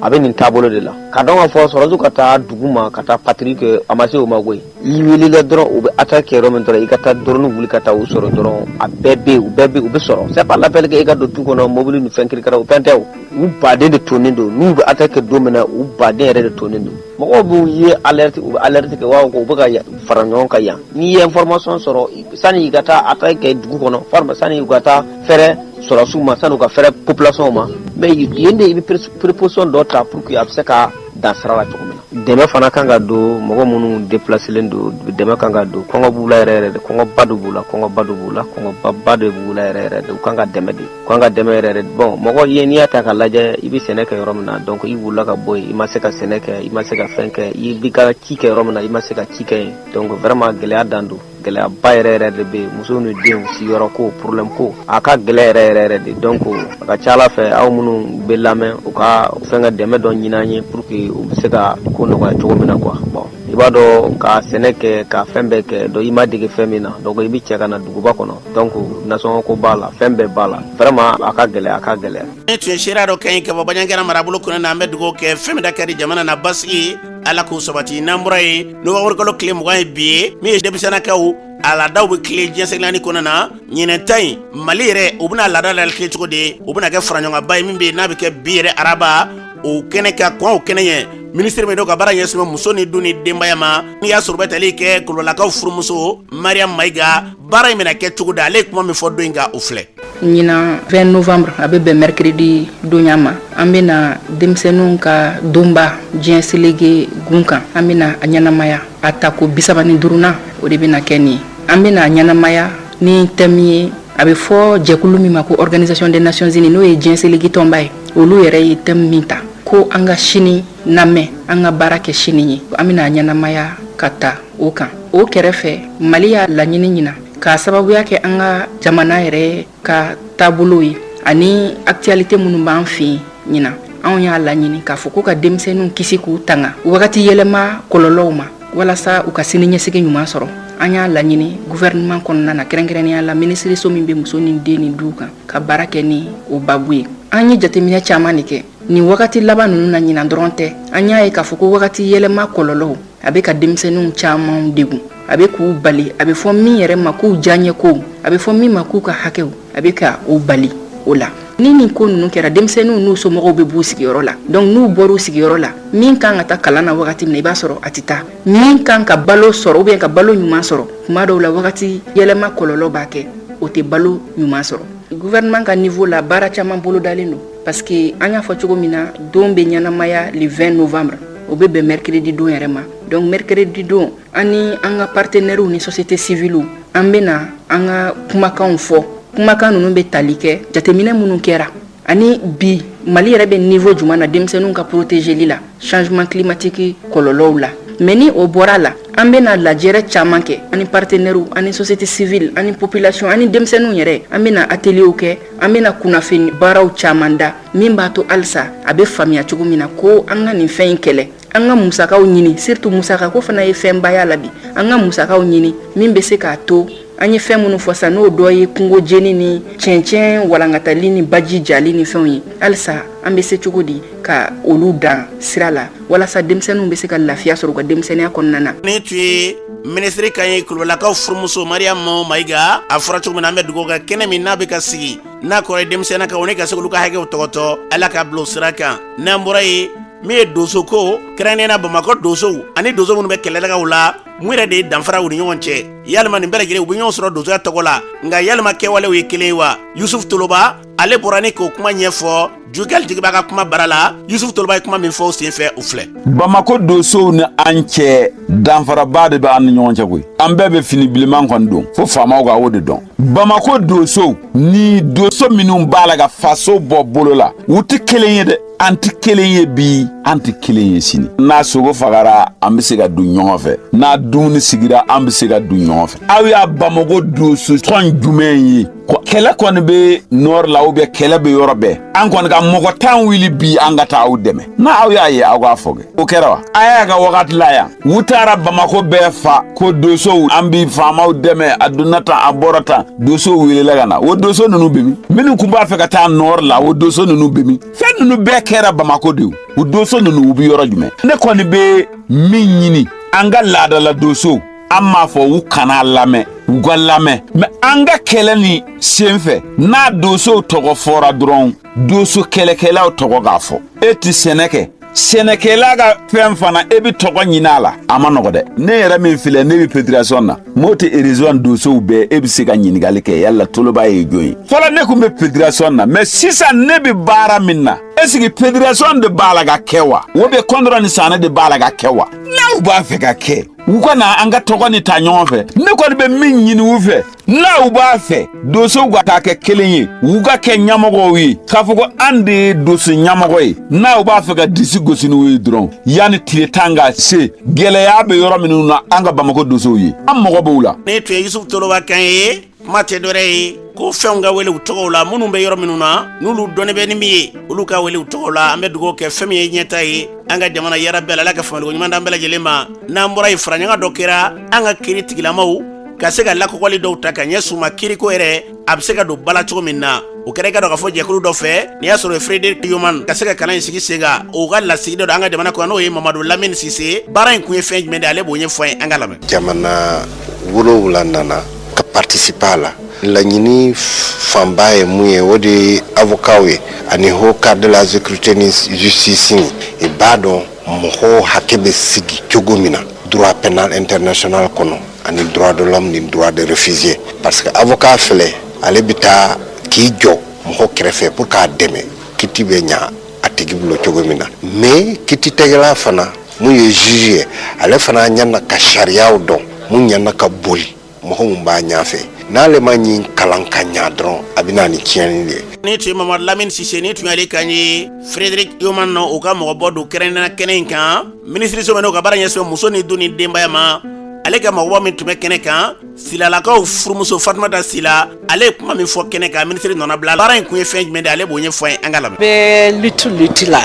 a bɛ nin taabolo de la ka dɔn ka fɔ sɔrɔsiw ka taa dugu ma ka taa patrouille kɛ a ma se o ma koyi i welela dɔrɔn u bɛ attaque kɛ yɔrɔ min dɔrɔn i ka taa dɔrɔn wuli ka taa u sɔrɔ dɔrɔn a bɛɛ bɛ u bɛɛ u bɛ sɔrɔ se b'a lafifɛli kɛ i ka don tu kɔnɔ mobili ni fɛn kirika u fɛn tɛ u baden de tonnen don n'u bɛ attaque kɛ don min na u baden yɛrɛ de tonnen don mɔgɔ b'u ye u bɛ alerte kɛ u bɛ ka fara ɲɔgɔn kan yan n'i ye information sɔrɔ sani i ka taa attaque kɛ dugu kɔnɔ sani u ka taa fɛɛrɛ sɔrɔsiw ma sani u ka fɛɛrɛ population ma mais yen de i bɛ préposition dɔ ta pour que a bɛ se ka dan sira la cogo min na dɛmɛ fana kan ka don mɔgɔ minnu déplacelen don dɛmɛ kan ka don kɔngɔ b'u la yɛrɛ yɛrɛ de kɔngɔba de b'u la kɔngɔba de b'u la kɔngɔbaba de b'u la yɛrɛ yɛrɛ de u kan ka dɛmɛ de u kan ka dɛmɛ yɛrɛ yɛrɛ bon mɔgɔ ye n'i y'a ta ka lajɛ i bɛ sɛnɛ kɛ yɔrɔ min na donc i wulila ka bɔ yen i ma se ka sɛnɛ kɛ i ma se ka fɛn kɛ i b'i ka ci kɛ yɔrɔ min na i ma se ka ci kɛ yen donc vraiment gɛlɛya dan don gɛlɛyaba yɛrɛ yɛrɛ de bɛ yen muso ni denw siyɔrɔ ko problème ko a ka gɛlɛ yɛrɛ yɛrɛ yɛrɛ de donc a ka ca la fɛ aw minnu bɛ lamɛn u ka fɛn ka dɛmɛ dɔ ɲini an ye pour que u bɛ se ka ko nɔgɔya cogo min na quoi bon i b'a dɔn ka sɛnɛ kɛ ka fɛn bɛɛ kɛ donc i ma dege fɛn min na donc i bɛ cɛ ka na duguba kɔnɔ donc nasɔngɔ ko b'a la fɛn bɛɛ b'a la vraiment a ka gɛlɛ a ka gɛlɛ nin tun ye seereya dɔ kan ye ka bɔ Bandiagara marabolo kɔnɔna an bɛ dugawu kɛ fɛn min da ka di jamana na basigi ala k'o sabati n'an bɔra yen nowanburukalo tile mugan ye bi ye min ye denmisɛnnakaw a laadaw bɛ tilen diɲɛ selege naani kɔnɔna na ɲinan ta in mali yɛrɛ u bɛna laada latilen cogo di o bɛna kɛ faraɲɔgɔnba ye min bɛ yen n'a bɛ kɛ bi yɛrɛ araba o kɛnɛ ka kɔn o kɛnɛ ɲɛ minisiri min don ka baara ɲɛsinnen bɛ muso ni den ni denbaya ma n'i y'a sɔrɔ bɛ tali kɛ Kulibalilakaw furumuso Mariam Mayiga baara in bɛna kɛ cogo di ale ye kuma min fɔ don in kan o filɛ ɲinan 20 novembre a bɛ bɛn mercredi donya ma an bɛna denmisɛnninw ka donba diɲɛ selege gun kan an bɛna a ɲɛnamaya a tako bisaba ni duruna o de bɛna kɛ nin an bɛna a ɲɛnamaya ni thème ye a bɛ fɔ jɛkulu min ma ko organisation des nations unies n'o ye diɲɛ selege tɔnba ye olu yɛrɛ ye thème min ta ko an ka sini lamɛn an ka baara kɛ sini ye an bɛna a ɲɛnamaya ka ta o kan o kɛrɛfɛ mali y'a laɲini ɲinan K'a sababuya kɛ an ka jamana yɛrɛ ka taabolo ye ani actualité minnu b'an fɛ ɲinan anw y'a laɲini k'a fɔ ko ka denmisɛnninw kisi k'u tanga wagati yɛlɛma kɔlɔlɔw ma walasa u ka sini ɲɛsigi ɲuman sɔrɔ an y'a laɲini gouvernement kɔnɔna na kɛrɛnkɛrɛnnenya la minisiririso min bɛ muso ni den ni du kan ka baara kɛ ni o babu ye an ye jateminɛ caman de kɛ nin wagati laban ninnu na ɲinan dɔrɔn tɛ an y'a ye k'a fɔ ko wagati yɛlɛma kɔlɔlɔw a bɛ ka denmisɛnninw caman degun a bɛ k'u bali a bɛ fɔ min yɛrɛ ma k'u diyaɲɛ kow a bɛ fɔ min ma k'u ka hakɛw a bɛ ka u bali o la ni nin ko ninnu kɛra denmisɛnninw n'u somɔgɔw bɛ b'u sigiyɔrɔ la donc n'u bɔr'u sigiyɔrɔ la min kan ka taa kalan na wagati min na i b'a sɔrɔ a tɛ taa min kan ka balo sɔrɔ ou bien ka balo ɲuman sɔrɔ tuma dɔw la wagati yɛlɛma kɔlɔlɔ b'a kɛ o tɛ balo ɲuman sɔrɔ gouvernement ka niveau la baara caman bolodalen don parce que an y'a fɔ cogo min na don bɛ ɲɛnamaya le 20 novembre o bɛ bɛn mercredi don yɛrɛ ma donc mercredi don an ni an ka partenɛriw ni société civile an bɛna an ka kumakanw fɔ kumakan ninnu bɛ tali kɛ jateminɛ minnu kɛra ani bi mali yɛrɛ bɛ niveau jumɛn na denmisɛnninw ka porotezeli la changement climatique kɔlɔlɔw la mais ni o bɔra la an bɛna lajɛrɛ caman kɛ ani partenɛriw ani société civile ani population ani denmisɛnninw yɛrɛ an bɛna ateliyew kɛ an bɛna kunnafoni baaraw caman da min b'a to halisa a bɛ faamuya cogo min na ko an ka nin fɛn in kɛlɛ an ka musakaw ɲini surtout musaka ko fana ye fɛnba y'a la bi an ka musakaw ɲini min bɛ se k'a to an ye fɛn minnu fɔ sa n'o dɔ ye kungo jeni ni cɛncɛn walankatali ni baji jali ni fɛnw ye halisa an bɛ se cogo di ka olu dan sira la walasa denmisɛnninw bɛ se ka lafiya sɔrɔ u ka denmisɛnninya kɔnɔna na nin tun ye minisiri kan ye kulubalilakaw furumuso mariyamu mayiga a fɔra cogo min na an bɛ dugawu kɛ kɛnɛ min n'a bɛ ka sigi n'a kɔrɔ ye denmisɛnna kan o ne ka se k'olu ka hakɛw tɔgɔtɔ ala ka bila o sira kan n'an bɔra yen min ye donso ko kɛrɛnkɛrɛnnenya bamakɔ donsow ani donso minnu bɛ kɛlɛdagaw la mun yɛrɛ de ye danfara u ni ɲɔgɔn cɛ yalima nin bɛɛ lajɛlen u bɛ ɲɔgɔn sɔrɔ donsoya tɔgɔ la nka yalima kɛwalew ye kelen ye wa yusufu toloba ale bɔra ni k'o kuma ɲɛfɔ jukɛli jigiba ka kuma bara la yusufu toloba ye kuma min fɔ o senfɛ o filɛ bamakɔ donsow ni an cɛ danfaraba de bɛ an ni ɲɔgɔn cɛ koyi an bɛɛ bɛ fini bilenman kɔni don fo faamaw ka o de dɔn bamakɔ donsow ni donso minnu b'a la ka faso bɔ bolo la u tɛ kelen ye dɛ an tɛ kelen ye bi an tɛ kelen ye sini n'a sogo fagara an bɛ se k'a dun ɲɔgɔn fɛ n'a dumuni sigira an bɛ se k'a dun ɲɔgɔn fɛ aw y'a bamakɔ donso tɔn jumɛn ye kɛlɛ kɔni bɛ nord la ou bien kɛlɛ bɛ yɔrɔ bɛɛ an kɔni ka mɔgɔ tan wuli bi an ka taa aw dɛmɛ n'a aw y'a ye aw k'a fɔ kɛ o kɛra wa a y'a ka wagati la yan u taara bamako bɛɛ fa ko dosow an bi faamaw dɛmɛ a donna tan a bɔra tan dosow welela ka na o doso nunu be min minnu kun b'a fɛ ka taa nord la o doso nunu be min fɛn nunu bɛɛ kɛra bamako de o doso nunu u bi yɔrɔ jumɛn ne kɔni be min ɲini an ka laadala dosow an m'a fɔ u kana lamɛn u ka lamɛn mɛ an ka kɛlɛ ni sen fɛ n'a dosow tɔgɔ fɔra dɔrɔn doso kɛlɛkɛlaw tɔgɔ ka fɔ e ti sɛnɛ kɛ sɛnɛkɛla ka fɛn fana e bɛ tɔgɔ ɲini a la a ma nɔgɔ dɛ ne yɛrɛ min filɛ ne bɛ fédération na mɔti région dosow bɛɛ e bɛ se ka ɲininkali kɛ yala toloba ye jɔn ye fɔlɔ ne kun bɛ fédération na mɛ sisan ne bɛ baara min na est-ce que fédération de b'a la k'a kɛ wa ou bien kɔndɔrɔ ni sanɛ de b'a la k'a kɛ wa n'u b'a fɛ k'a kɛ u ka na an ka tɔgɔ ni ta ɲɔgɔn fɛ ne kɔni bɛ min ɲini u fɛ n'u b'a fɛ dosow ka taa kɛ kelen ye u ka kɛ ɲɛmɔgɔw ye k'a fɔ ko an de ye doso ɲɛmɔgɔ ye n'u b'a fɛ ka disi gosi n'u ye dɔrɔn yanni tile tan ka se gɛlɛya bɛ yɔrɔ minnu na an ka bamako dosow ye an mago b'u la nin tun ye yusufu toloba kan ye kuma tɛ dɔwɛrɛ ye ko fɛnw ka wele u tɔgɔw la minnu bɛ yɔrɔ minnu na n'olu dɔnnen bɛ ni min ye olu ka wele u tɔgɔw la an bɛ dugawu kɛ fɛn min ye ɲɛta ye an ka jamana yɔrɔ bɛɛ la ala ka faamuyali ko ɲuman d'an bɛɛ lajɛlen ma n'an bɔra yen faraɲɔgɔn dɔ kɛra an ka kiri tigilamaw ka se ka lakɔgɔli dɔw ta ka ɲɛsin u ma kiriko yɛrɛ a bɛ se ka don ba la cogo min na o kɛra i k'a dɔn k'a fɔ jɛkulu dɔ fɛ n'i y'a sɔrɔ frederik yoman ka se ka kalan in sigi sen kan o ka lasigiden don an ka jamana kɔnɔ n'o ye mamadu lamini sise baara in kun ye fɛn jumɛn de ale b'o ɲɛfɔ an ye an ka lamɛn jamana wolowula nana ka participer a la laɲini fanba ye mun ye o de ye avocatw ye ani haut cadre de la sécurité ni justice i b'a dɔn mɔgɔw hakɛ bɛ sigi cogo min na droit pénal international kɔnɔ ani droit de l'homme ni droit de réfugié parce que avocat filɛ ale bɛ taa k'i jɔ mɔgɔ kɛrɛfɛ pour k'a dɛmɛ kiti bɛ ɲa a tigi bolo cogo min na mais kiti tɛgɛla fana mun ye juge ye ale fana ɲana ka sariyaw dɔn mun ɲana ka boli mɔgɔ mun b'a ɲafɛ n'ale ma ɲin kalan ka ɲa dɔrɔn a bɛ na ni tiɲɛni de ye ni tun ye mamadu lamini sise ni tun y'ale kan ye frederic yoman na o ka mɔgɔbɔ don kɛrɛnkɛrɛnnenya kɛnɛ in kan minisiriso min n'o ka baara ɲɛsin muso ni den ni denbaya ma ale ka mɔgɔba min tun bɛ kɛnɛ kan silalakaw furumuso fatumata sila ale ye kuma min fɔ kɛnɛ kan minisiri nɔnabila baara in kun ye fɛn jumɛn de ale b'o ɲɛfɔ an ye an ka lamɛn bɛɛ luti luti la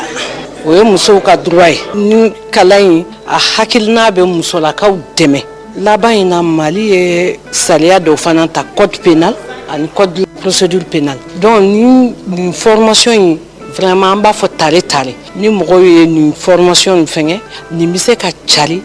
o ye musow ka droit ye ni kalan in a hakilina bɛ musolakaw dɛmɛ laban in na mali ye sariya dɔw fana ta code pénal ani code de procédure pénale donc ni nin formation in vraiment an b'a fɔ tare tare ni mɔgɔw ye nin fɔrɔmasɔn in fɛngɛ nin bɛ se ka cari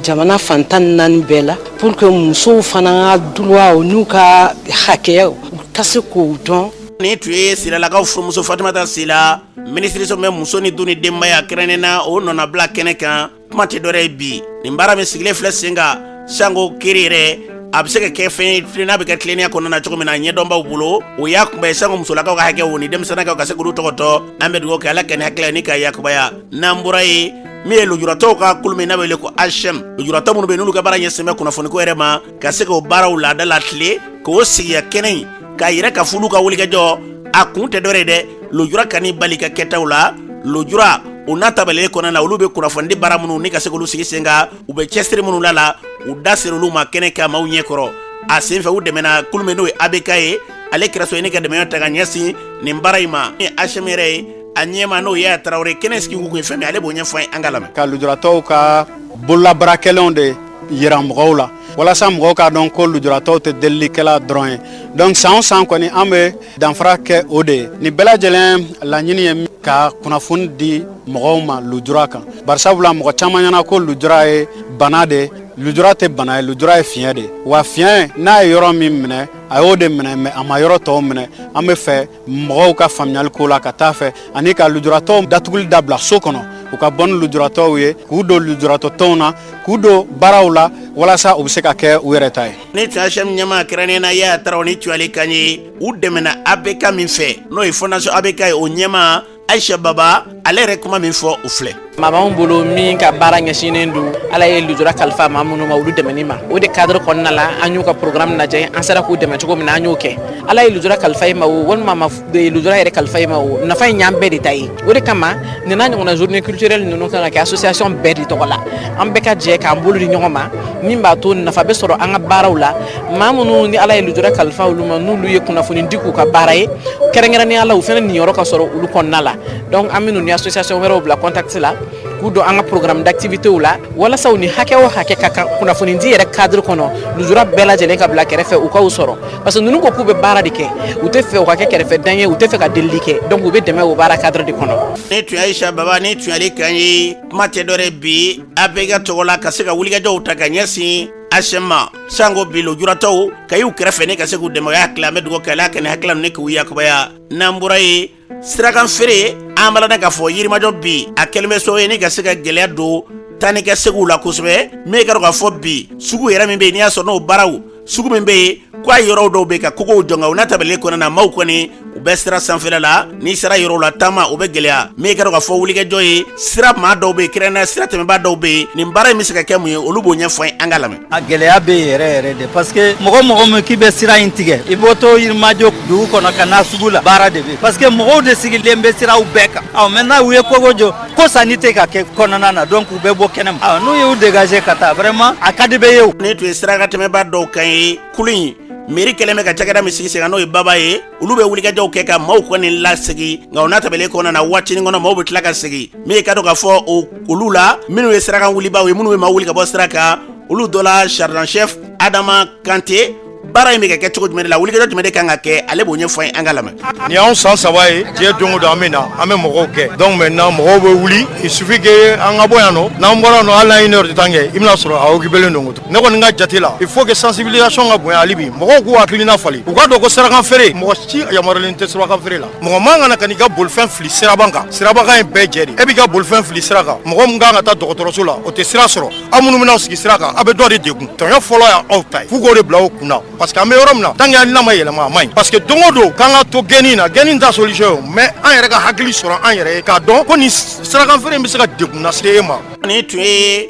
jamana fan tan ni naani bɛɛ la pour que musow fana droit n'u ka hakɛyaw u ka se k'o dɔn nin tun ye silalakaw furumuso fatumata sila minisiriso min bɛ muso ni du ni denbaya kɛrɛnnen na o nɔnabila kɛnɛ kan kuma tɛ dɔwɛrɛ ye bi nin baara min sigilen filɛ sen kan sango kiiri yɛrɛ a bɛ se ka kɛ fɛn ye n'a bɛ kɛ tilennenya kɔnɔna na cogo min na ɲɛdɔnbaw bolo o y'a kun bɛɛ ye sango musolakaw ka hakɛ o ni denmisɛnnakaw ka se k'olu tɔgɔtɔ an bɛ dugawu kɛ ala ka nin hakilila nin ka yakubaya n'an bɔra ye min ye lujuratɔw ka kulu min n'a bɛ wele ko asɛm lujuratɔ minnu bɛ yen n'olu ka baara ɲɛsin bɛ kunnafoniko yɛrɛ ma ka se k'o baaraw laada latilen k'o sigiya kɛnɛ in k'a yira k'a fɔ olu ka wulikajɔ a kun tɛ dɔwɛrɛ ye dɛ lujura kan'i bali ka kɛtaw la lujura o n'a tabalen kɔnɔna na olu bɛ kunnafonidi baara minnu ni ka se k'olu sigi sen kan u bɛ cɛsiri minnu la la u da sera olu ma kɛnɛ kan maaw ɲɛ kɔrɔ a senfɛ u dɛmɛna kulu min n'o ye abk ye ale kɛra so ye ni ka dɛmɛ ta ka ɲɛsin nin baara in ma ni asɛm yɛrɛ ye a ɲɛmaa n'o ye ya tarawele kɛnɛ sigi kun ye fɛn min ale b'o ɲɛfɔ ye an k'a lamɛn ka lujuratɔw ka bololabaara kɛlenw de yira mɔgɔw la walasa mɔgɔw k'a dɔn ko lujuratɔw tɛ delilikɛla dɔrɔn ye donc san o san kɔni an bɛ danfara kɛ o de ye nin bɛɛ lajɛlen laɲini ye ka kunnafoni di mɔgɔw ma lujura kan barisabula mɔgɔ caman ɲɛna ko lujura ye bana de lujura tɛ bana ye lujura ye fiɲɛ de wa fiɲɛ n'a ye yɔrɔ min minɛ a y'o de minɛ mais a ma yɔrɔ tɔw minɛ an b'a fɛ mɔgɔw ka faamuyali ko la ka taa fɛ ani ka lujuratɔw datuguli dabila so kɔnɔ u ka bɔ ni lujuratɔw ye k'u don lujuratɔtɔnw na k'u don baaraw la walasa u bɛ se ka kɛ u yɛrɛ ta ye nin tun ye asɛm ɲɛmaa kɛrɛnnen na ya tarawele nin tun y'ale kan ye u dɛmɛna abk min fɛ n'o ye fondation abk ye o ɲɛmaa ayisa baba ale yɛrɛ kuma min fɔ o filɛ maa b'an bolo min ka baara ɲɛsinnen don ala ye lujura kalifa maa minnu ma olu dɛmɛni ma o de cadre kɔnɔna la an y'u ka programme lajɛ an sera k'u dɛmɛ cogo min na an y'o kɛ ala ye lujura kalifa i ma o walima a ma lujura yɛrɛ kalifa i ma o nafa in y'an bɛɛ de ta ye o de kama nin n'a ɲɔgɔnna journée culturelle ninnu kan ka kɛ association bɛɛ de tɔgɔ la an bɛɛ ka jɛ k'an bolo di ɲɔgɔn ma min b'a to nafa bɛ sɔrɔ an ka baaraw la maa minnu ni ala ye lujura kalifa olu ma n'olu ye kunnafonidi k'u ka baara ye kɛrɛnkɛrɛnnenya la u fana niyɔrɔ ka sɔrɔ olu kɔnɔna la donc an bɛ ninnu ni association wɛrɛw bila contact la k'u don an ka programme d'activités la walasa u ni hakɛ o hakɛ ka kan kunnafoni di yɛrɛ cadre kɔnɔ lujura bɛɛ lajɛlen ka bila kɛrɛfɛ u ka u sɔrɔ parce que ninnu ko k'u bɛ baara de kɛ u t'a fɛ u ka kɛ kɛrɛfɛ dan ye u t'a fɛ ka delili kɛ donc u bɛ dɛmɛ o baara cadre de kɔnɔ. nin tun ye ayisa baba nin tun y'ale kan ye kuma tɛ dɔwɛrɛ ye bi abk tɔgɔ la ka se ka wulikajɔw ta ka ɲɛsin asɛm ma sango bi lujuratɔw ka y'u kɛrɛfɛ ni ka se k'u dɛmɛ o y'a tila an bɛ dugawu kɛ ala ka nin hakilila ninnu k'u yakubaya n'an bɔra ye sirakan feere an b'a kalama k'a fɔ yirimajɔ bi a kɛlen bɛ so ye ni ka se ka gɛlɛya don taanikaseginw la kosɛbɛ min ye k'a dɔn k'a fɔ bi sugu yɛrɛ min bɛ yen n'i y'a sɔrɔ n'o baaraw sugu min bɛ yen K' a yɔrɔ dɔw bɛ ka kogow jɔ nka o n'a ta bɛɛ kɔnɔna na maaw kɔni u bɛ sira sanfɛla la n'i sera yɔrɔw la taama o bɛ gɛlɛya min ye ka dɔn k'a fɔ wulikajɔ ye sira maa dɔw bɛ yen kɛrɛnkɛrɛnnenya sira tɛmɛbaa dɔw bɛ yen nin baara in bɛ se ka kɛ mun ye olu b'o ɲɛfɔ an ye an ka lamɛn a gɛlɛya bɛ yɛrɛ yɛrɛ de parce que mɔgɔ o mɔgɔ min k'i bɛ sira in tigɛ i bɔtɔ yirimajɔ dugu kɔnɔ ka na sugu la baara de bɛ parce que mɔgɔw de sigilen bɛ siraw bɛɛ kan maintenant u ye kogo jɔ ko sanni tɛ ka kɛ kɔnɔna na donc u bɛ bɔ kɛnɛma ah, n'u y'u dégager ka taa vraiment a ka di bɛɛ ye o nin tun ye sirakan tɛmɛbaa dɔw kan ye kulu in mairie kɛlen bɛ ka cakɛda min sigi sen kan n'o ye baba ye olu bɛ wulikajɔw kɛ ka maaw kɔni lasegi nka o n'a ta bɛɛ kɔnɔna na waatinin kɔnɔ maaw bɛ tila ka segi min ye ka dɔn k'a fɔ olu la minnu ye sirakan wulibaaw ye minnu bɛ maaw wuli ka bɔ sira kan olu dɔ la sergent chef adama kante baara in bɛ ka kɛ cogo jumɛn de la wulikajɔ jumɛn de kan ka kɛ ale b'o ɲɛfɔ an ye an ka lamɛn nin y'anw san saba ye déjà don o don an bɛ na an bɛ mɔgɔw gɛn donc maintenant mɔgɔw bɛ wuli il suffit que an ka bɔ yan nɔ n'an bɔra nɔ hali n'an ye une heure de temps kɛ i bɛn'a sɔrɔ a occupelen don o tuma ne kɔni ka jate la il faut que sensibilisation ka bonya hali bi mɔgɔw k'u hakilina falen u k'a dɔn ko sirakan feere mɔgɔ si yamaruyalen tɛ sirakan feere la mɔgɔ man kan ka n'i ka bolifɛn fili siraba kan siraba kan ye bɛɛ jɛ de ye e b'i ka bolifɛn fili sira kan mɔgɔ min kan ka taa dɔgɔtɔrɔso la o tɛ sira sɔrɔ aw minnu bɛ n'aw sigi sira kan aw bɛ dɔ de degun tɔɲɔ fɔlɔ y'aw ta ye f'u k'o de bila aw kun na parce que an bɛ yɔrɔ min na tant que hakilina ma yɛlɛma a man ɲi parce que don o don k'an ka to gɛnni na gɛnni t'a solution ye o mais an yɛrɛ ka hakili sɔrɔ an yɛrɛ ye k'a dɔn ko nin sirakan feere in bɛ se ka degun lase e ma. nin tun ye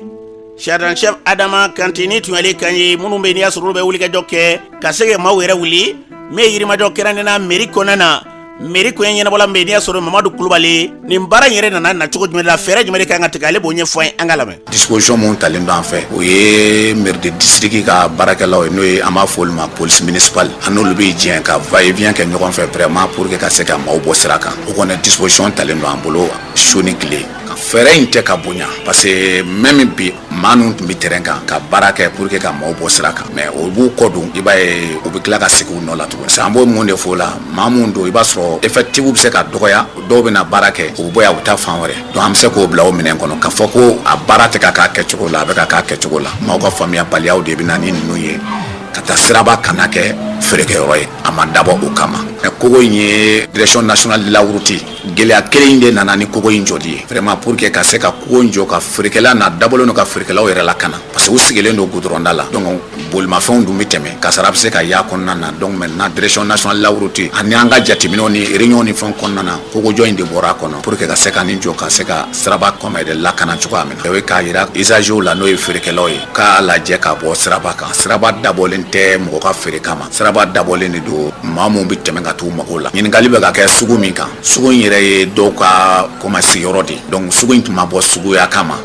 sergent chef adama kante nin tun y'ale kan ye minnu bɛ yen n'i y'a sɔrɔ olu bɛ wulikajɔ kɛ ka se ka maaw yɛrɛ wuli min ye yirimajɔ kɛrɛnkɛrɛnnenya mairie kɔnɔna na mairie ko ɲɛnabɔla min bɛ n'i y'a sɔrɔ mamadu kulubali ye nin baara in yɛrɛ nana na cogo jumɛn de la fɛɛrɛ jumɛn de kan ka tigɛ ale b'o ɲɛfɔ an ye an ka lamɛn disposition min talen don an fɛ o ye mairie de district ka baarakɛlaw ye n'o ye an b'a fɔ olu ma police municipale an n'olu bɛ jɛn ka va et vient kɛ ɲɔgɔn fɛ vraiment pour que ka se ka maaw bɔ sira kan o kɔni disposition talen don an bolo su ni tile ka fɛɛrɛ in tɛ ka bonya parce que même bi maa ninnu tun bɛ terrain kan ka baara kɛ pour que ka maaw bɔ sira kan mais o b'u kɔ don i b'a ye u bɛ tila ka segin u nɔ la tuguni an b'o mun de fɔ o la mais mun don i b'a sɔrɔ effectif bɛ se ka dɔgɔya dɔw bɛ na baara kɛ u bɔ yan u bɛ taa fan wɛrɛ donc an bɛ se k'o bila o minɛn kɔnɔ k'a fɔ ko a baara tɛ ka k'a kɛcogo la a bɛ ka k'a kɛcogo la maaw ka faamuyabaliyaw de bɛ na ni ninnu ye ka taa siraba kana kɛ feerekɛyɔrɔ ye a ma dabɔ o kama kogo in ye direction nationale de la route Gɛlɛya kelen in de nana ni kogo in jɔli ye vraiment pour que ka se ka kogo in jɔ ka feerekɛla n'a dabɔlen don ka feerekɛlaw yɛrɛ lakana parce que u sigilen don goudron da la donc bolimafɛnw dun bɛ tɛmɛ kasara bɛ se ka y'a kɔnɔna na donc maintenant direction nationale de la route ani an ka jateminɛw ni réunion ni fɛnw kɔnɔna na kogojɔ in de bɔra a kɔnɔ pour que ka se ka nin jɔ ka se ka siraba kan maa yɛrɛ lakana cogoya min na o ye k'a jira usagers la n'o ye feerekɛlaw ye u k'a lajɛ ka bɔ siraba kan siraba dabɔlen tɛ mɔgɔ ka feere kama siraba dabɔlen de don maa minnu bɛ tɛmɛ ka t'u mago la ɲininkali bɛ ka kɛ sugu min kan sugu in yɛrɛ ye dɔw ka koma sigiyɔrɔ de dɔnku sugu in tun ma bɔ suguya kama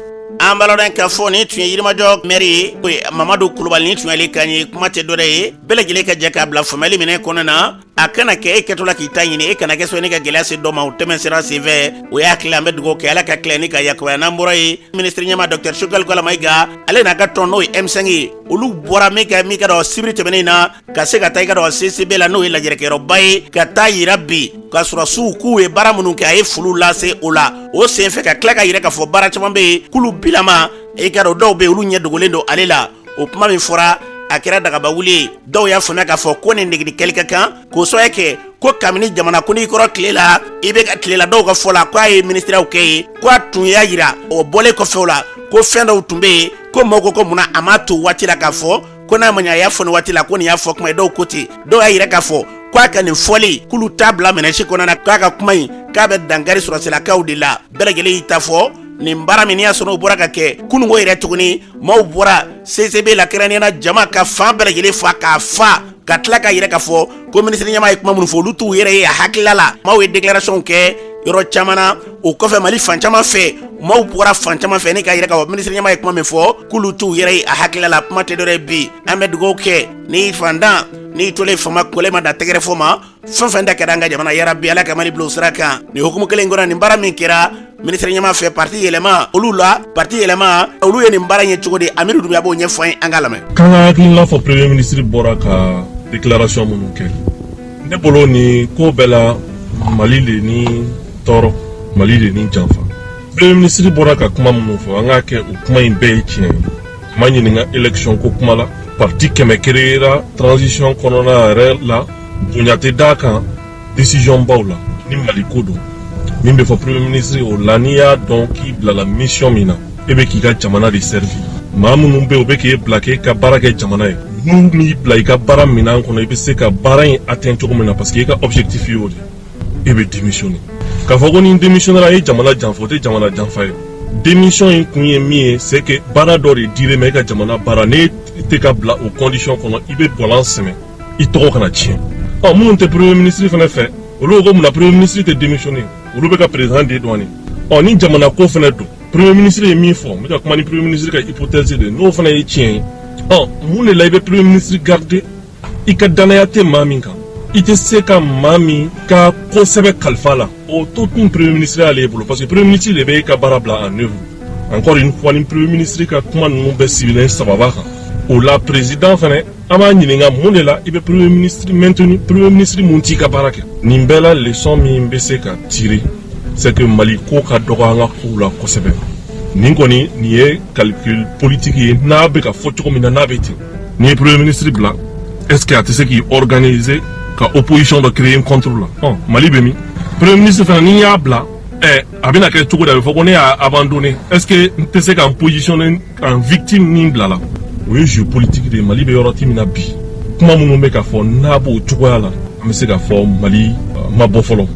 an baladen k'a fɔ ni tun ye yirimajɔ mɛri ye o mamadu kulubali nin tun y'ale kan ye kuma tɛ dɔwɛrɛ ye bɛɛ lajɛlen ka jɛ k'a bila faamuyali minɛ kɔnɔna na a kana kɛ e kɛtɔ la k'i ta ɲini e kana kɛ sababu ni ka gɛlɛya se dɔ ma o tɛmɛsira senfɛ o y'a tila an bɛ dugawu kɛ ala ka tila ni k'a yakubaya n'an bɔra yen minisiri ɲɛma dɔkita sogɛli kokala mayiga ale n'a ka tɔn n'o ye M5 ye olu bɔra min kɛ min ka dɔn sibiri tɛmɛnen na ka se ka taa i k'a dɔn CICB la n'o ye lajɛrɛkɛyɔrɔba ye ka taa yira bi ka sɔrɔsiw k'u ye baara minnu kɛ a ye foli lase o la o senfɛ ka tila k'a yira k'a fɔ baara caman bɛ yen k'olu bilama i k'a dɔn dɔw bɛ yen olu ɲɛ dogolen don ale la o kuma min fɔra a kɛra dagabawuli ye dɔw y'a faamuya k'a fɔ ko nin negeli kɛli ka kan k'o sɔrɔ kɛ ko kabini jamana kuntigi kɔrɔ tile la IBK tile la dɔw ka fɔ la ko a ye minisiriyaw kɛ ye ko a tun y'a yira o bɔlen kɔfɛ o la ko fɛn dɔw tun bɛ yen ko maaw ko ko munna a m'a to waati la k'a fɔ ko n'a ma ɲɛ a y'a fɔ nin waati la ko nin y'a fɔ kuma ye dɔw ko ten dɔw y'a yira k'a fɔ ko a ka nin fɔli k'olu t'a bila minɛn si kɔnɔna na k'a ka kuma in k'a bɛ dankari sɔrɔsilakaw de la bɛɛ lajɛlen y'i ta fɔ nin baara min y'a sɔrɔ o bɔra ka kɛ kununko yɛrɛ tuguni maaw bɔra cicb la kɛrɛnkɛrɛnnenya la jama ka fan bɛɛ lajɛlen fa k'a fa ka tila k'a yira k'a fɔ ko minisiri ɲɛma ye kuma minnu fɔ olu t'u yɛrɛ ye a hakilila la maaw ye deklarasɔnw kɛ yɔrɔ caman na o kɔfɛ mali fan caman fɛ maaw bɔra fan caman fɛ ni k'a yira k'a fɔ minisiri ɲɛma ye kuma min fɔ k'olu t'u yɛrɛ ye a hakilila la kuma tɛ dɔwɛrɛ ye bi an bɛ dugawu kɛ ni fantan n'i tolen faama kɔlɛ ma da tɛgɛrɛ fɔ ma fɛn fɛn da kɛra an ka jamana yarabi ala ka mali bila o sira kan nin hukumu kelen kɔnɔ nin baara min kɛra minisiri ɲɛma fɛ parti yɛlɛma olu la parti yɛlɛma olu ye nin baara ye cogo di amidu dunbiya b'o ɲɛfɔ an ye an k'a lamɛn k'an ka hakilina fɔ premier ministre bɔra ka déclaration minnu kɛ ne bolo nin ko bɛɛ la mali de ni tɔɔrɔ mali de ni janfa premier ministre bɔra ka kuma minnu fɔ an k'a kɛ o kuma in bɛɛ ye tiɲɛ ye ma ɲininka élection ko kuma la parti kɛmɛ kereyera transition kɔnɔna yɛrɛ la bonya tɛ d'a kan décision baw la ni mali ko don min bɛ fɔ premier ministre o la n'i y'a dɔn k'i bilala mission min na e bɛ k'i ka jamana de servi maa minnu bɛ u bɛ k'e bila k'e ka baara kɛ jamana ye n'u m'i bila i ka baara minan kɔnɔ i bɛ se ka baara in atteint cogo min na parce que i ka objectif y'o de e bɛ démissionner k'a fɔ ko n'i démissionnera e ye jamana janfa o tɛ jamana janfa ye démission in kun ye min ye c'est que baara dɔ de dilen e ma e ka jamana baara n'e tɛ ka bila o condition kɔnɔ i bɛ bɔlan sɛmɛ i tɔgɔ kana tiɲɛ ɔ minnu tɛ premier ministre fana fɛ olu ko mun na premier ministre tɛ démissionner olu bɛ ka président de dɔɔni ɔ ni jamana ko fana don premier ministre ye min fɔ n bɛ ka kuma ni premier ministre ka hypothèse de ye n'o fana ye tiɲɛ ye ɔ mun de la i bɛ premier ministre garder i ka dannaya tɛ maa min kan i tɛ se ka maa min ka ko sɛbɛ kalifa la o to tun premier ministre y'ale bolo parce que premier ministre de bɛ ka baara bila en œuvre encore une fois ni premier ministre ka kuma ninnu bɛɛ sigilen sababa kan o la président fɛnɛ an b'a ɲininka mun de la i bɛ premier ministre maintenu premier ministre min t'i ka baara kɛ nin bɛɛ la leçon min bɛ se ka tirer c'est que mali ko ka dɔgɔ an ka kow la kosɛbɛ nin kɔni nin ye calcul politique ye n'a bɛ ka fɔ cogo min na n'a bɛ ten N'i ye premier ministre bila est ce que a tɛ se k'i organiser ka opposition dɔ créer contre la ɔ mali bɛ min premier ministre fana n'i y'a bila ɛ a bɛna kɛ cogo di a bɛ fɔ ko ne y'a abandonné est ce que n tɛ se ka n positionner en victime ni n bilala o ye jeu politique de ye mali bɛ yɔrɔ ti min na bi kuma minnu bɛ ka fɔ n'a b'o cogoya la an bɛ se ka fɔ mali ma bɔ fɔlɔ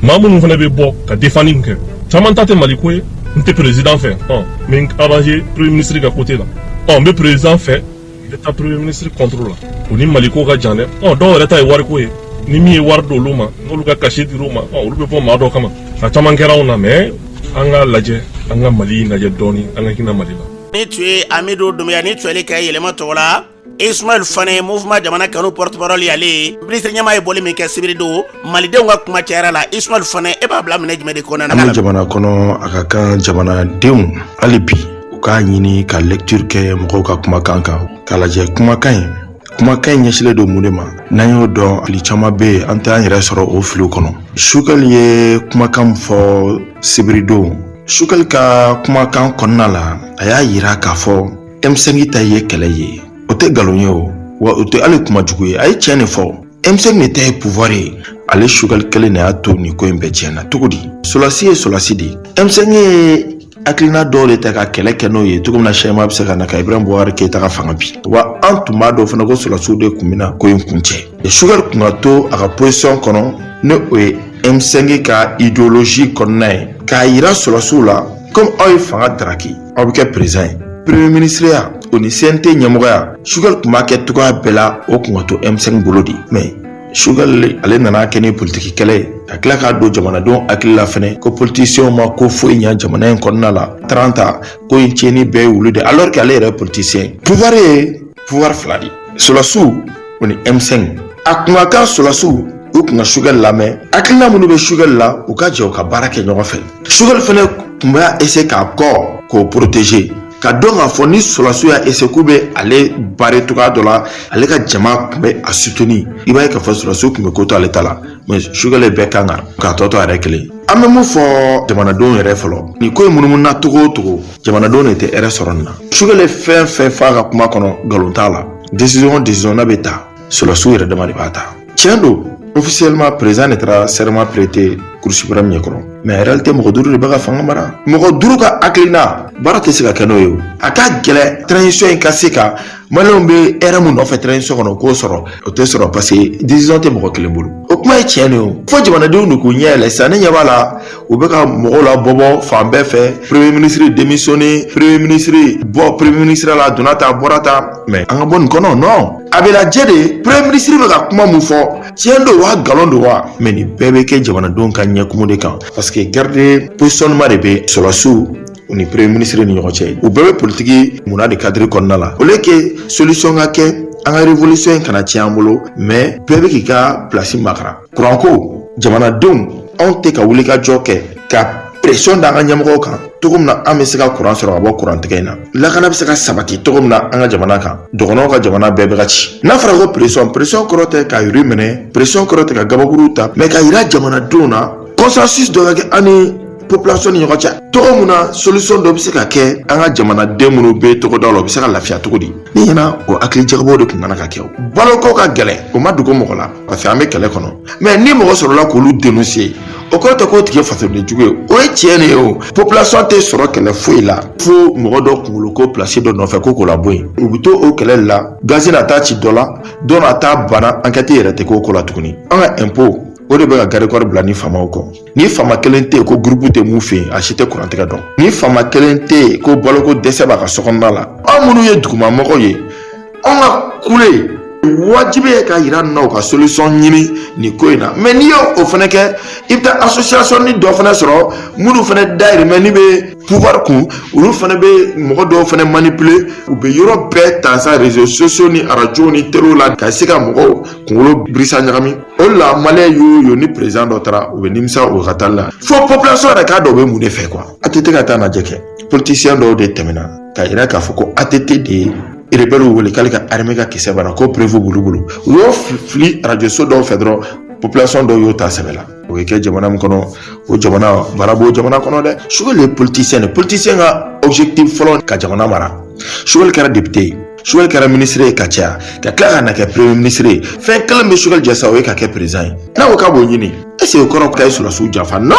maa minnu fana bɛ bɔ ka défendre min kɛ caman ta tɛ mali ko ye n tɛ président fɛ ɔ n bɛ n arranger premier ministre ka côté la ɔ n bɛ président fɛ n bɛ taa premier ministre contre la o ni mali ko ka jan dɛ ɔ dɔw yɛrɛ ta ye wariko ye ni min ye wari di olu ma n'olu ka cachet dira u ma ɔ olu bɛ bɔ maa dɔ kama a caman kɛra anw na mais an k'a lajɛ an ka mali lajɛ dɔɔni an ka hinɛ mali la. nin tun ye amidu dunbiya nin tun y'ale kan ye yɛlɛma tɔgɔ la ismail fane mouvement jamana kanu porte parole y'ale ye minisiri ɲɛmaa ye bɔli min kɛ sibiri don malidenw ka kuma cayara la ismail fane e b'a bila minɛn jumɛn de kɔnɔna na jamana kɔnɔ a ka kan jamanadenw hali bi u k'a ɲini ka lecture kɛ mɔgɔw ka kumakan kan k'a lajɛ kumakan in kumakan in ɲɛsilen don mun de ma n'an y'o dɔn fili caman bɛ yen an t'an yɛrɛ sɔrɔ o filiw kɔnɔ sukali ye kumakan fɔ sibiridon sukali ka kumakan kɔnɔna la a y'a yira k'a fɔ M5 ta ye kɛlɛ ye o tɛ nkalon ye o wa o tɛ hali kuma jugu ye a ye tiɲɛ de fɔ M5 de ta ye pouvoir ye ale sukali kelen de y'a to nin ko in bɛɛ tiɲɛna cogo di sɔlasi ye sɔlasi de ye M5 ye hakilina dɔw de ta ka kɛlɛ kɛ n'o ye cogo min na changement bɛ se ka na ka ibrahim boubacar keita ka fanga bin wa an tun b'a dɔn fana ko sɔlasiw de tun bɛna ko in kuncɛ sukali kun ka to a ka position kɔnɔ ni o ye M5 ka idéologie kɔnɔna ye k'a yira sɔlasiw la komi aw ye fanga daraki aw bɛ kɛ président ye premier minisiriya o ni cnt ɲɛmɔgɔya sugal tun b'a kɛ cogoya bɛɛ la o kun ka to m5 bolo de mais sugal ale nana kɛ ni politiki kɛlɛ ye ka tila k'a don jamanadenw hakili la fɛnɛ ko politisiyɛnw ma ko foyi ɲa jamana in kɔnɔna la trente ans ko in tiɲɛni bɛɛ y'olu de alors que ale yɛrɛ politisiyɛn pouvoir ye pouvoir fila de sɔlasiw o ni M5 a kun ka kan sɔlasiw u kun ka sugɛli lamɛn hakilina minnu bɛ sugɛli la u ka jɛ u ka baara kɛ ɲɔgɔn fɛ sugɛli fana kun b'a essayer k'a kɔ k'o protéger k'a dɔn k'a fɔ ni sɔlasiw y'a essayer k'u bɛ ale barrer cogoya dɔ la ale ka jama kun bɛ a soutenir i b'a ye k'a fɔ sɔlasiw kun bɛ ko to ale ta la mais sugɛli bɛɛ kan kan k'a tɔ to a yɛrɛ kelen an bɛ mun fɔ jamanadenw yɛrɛ fɔlɔ ni ko in munumununa cogo o cogo jamanadenw de tɛ hɛrɛ sɔrɔ nin na Choguel fɛn fɛn f'a ka kuma kɔnɔ nkalon t'a la décision décision n'a bɛ ta sɔrɔsiw yɛrɛ dama de b'a ta tiɲɛ don officiellement président de taara serment prêter Cour suprême ɲɛkɔrɔ mais réalité mɔgɔ duuru de bɛ ka fanga mara mɔgɔ duuru ka hakilina baara tɛ se ka kɛ n'o ye o a ka gɛlɛn transition in ka se ka maliyɛnw bɛ hɛrɛ mun nɔfɛ transition kɔnɔ k'o sɔrɔ o tɛ sɔrɔ parce que décision tɛ mɔgɔ kelen bolo o kuma ye tiɲɛ de ye o fo jamanadenw de k'u ɲɛ yɛlɛ sisan ne ɲɛ b'a la u bɛ ka mɔgɔw labɔbɔ fan bɛɛ fɛ premier ministre démissionné premier ministre bɔ premier ministre la donna ta bɔra ta mais an ka bɔ nin kɔnɔ non a bɛ lajɛ de premier ministre bɛ ka kuma mun fɔ tiɲɛ don wa nkalon don wa mais nin bɛɛ bɛ kɛ jamanadenw ka ɲɛkumu de kan parce que guerre de positionnement de bɛ sɔrɔsiw u ni premier ministre ni ɲɔgɔn cɛ u bɛɛ bɛ politiki munna de cadre kɔnɔna la au lieu que solution ka kɛ an ka révolution in kana tiɲɛ an bolo mais bɛɛ bɛ k'i ka place makaran kuranko jamanadenw anw tɛ ka wuli ka jɔ kɛ ka pression da an ka ɲɛmɔgɔw kan cogo min na an bɛ se ka kuran sɔrɔ ka bɔ kurantigɛ in na lakana bɛ se ka sabati cogo min na an ka jamana kan dɔgɔnɔw ka jamana bɛɛ bɛ ka ci n'a fɔra ko pression pression kɔrɔ tɛ ka yiri minɛ pression kɔrɔ tɛ ka gabakuru ta mais k'a yira jamanadenw na consensus dɔ ka kɛ an ni population ni ɲɔgɔn cɛ cogo min na solution dɔ bɛ se ka kɛ an ka jamanaden minnu bɛ togodaw la u bɛ se ka lafiya cogo di ne ɲɛna o hakili jagabɔw de tun kana ka kɛ o baloko ka gɛlɛn o ma dogo mɔgɔ la parce que an bɛ kɛlɛ kɔnɔ mais ni mɔgɔ sɔrɔla k'olu dénoncer o kɔrɔ tɛ k'o tigi fasoden jugu ye o ye tiɲɛ de ye o population tɛ sɔrɔ kɛlɛ foyi la fo mɔgɔ dɔ kunkolo ko place dɔ nɔfɛ ko k'o labɔ yen u bɛ to o kɛlɛ la gazi na taa ci dɔ la dɔ na taa bana enquête yɛrɛ tɛ k'o ko la tuguni an ka impôt o de bɛ ka garde-corps bila ni faamaw kɔ ni faama kelen tɛ yen ko groupe tɛ mun fɛ yen a si tɛ kurantigɛ dɔn ni faama kelen tɛ yen ko baloko dɛsɛ b'a ka sokɔnɔna la anw minnu ye dugumamɔgɔw ye anw ka kule wajibi ye k'a yira na u ka solution ɲini nin ko in na mais n'i y'o fana kɛ i bɛ taa association ni dɔ fana sɔrɔ minnu fana dayirimɛ ni bɛ pouvoir kun olu fana bɛ mɔgɔ dɔw fana manipuler u bɛ yɔrɔ bɛɛ ta sa réseaux sociaux ni arajow ni telew la ka se ka mɔgɔw kunkolo birisa ɲagami o de la maliyɛn y'o ye ni président dɔ taara u bɛ nimisa o ka taali la fo population yɛrɛ k'a dɔn u bɛ mun de fɛ quoi ATT ka taa lajɛ kɛ politicien dɔw de tɛmɛna k'a yira k'a fɔ ko ATT de ye rebɛliw wele k'ale ka armée ka kisɛ banna ko preuve b'olu bolo u y'o fili arajoso dɔw fɛ dɔrɔn population dɔw y'o ta sɛbɛ la o bɛ kɛ jamana min kɔnɔ o jamana baara b'o jamana kɔnɔ dɛ Choguel ye politicien de politicien ka objectif fɔlɔ ka jamana mara Choguel kɛra député ye Choguel kɛra ministre ye ka caya ka tila ka na kɛ premier ministre ye fɛn kelen bɛ Choguel jɛ sa o ye ka kɛ président ye n'a ko k'a b'o ɲini est-ce o kɔrɔ k'a ye sɔrɔsiw janfa non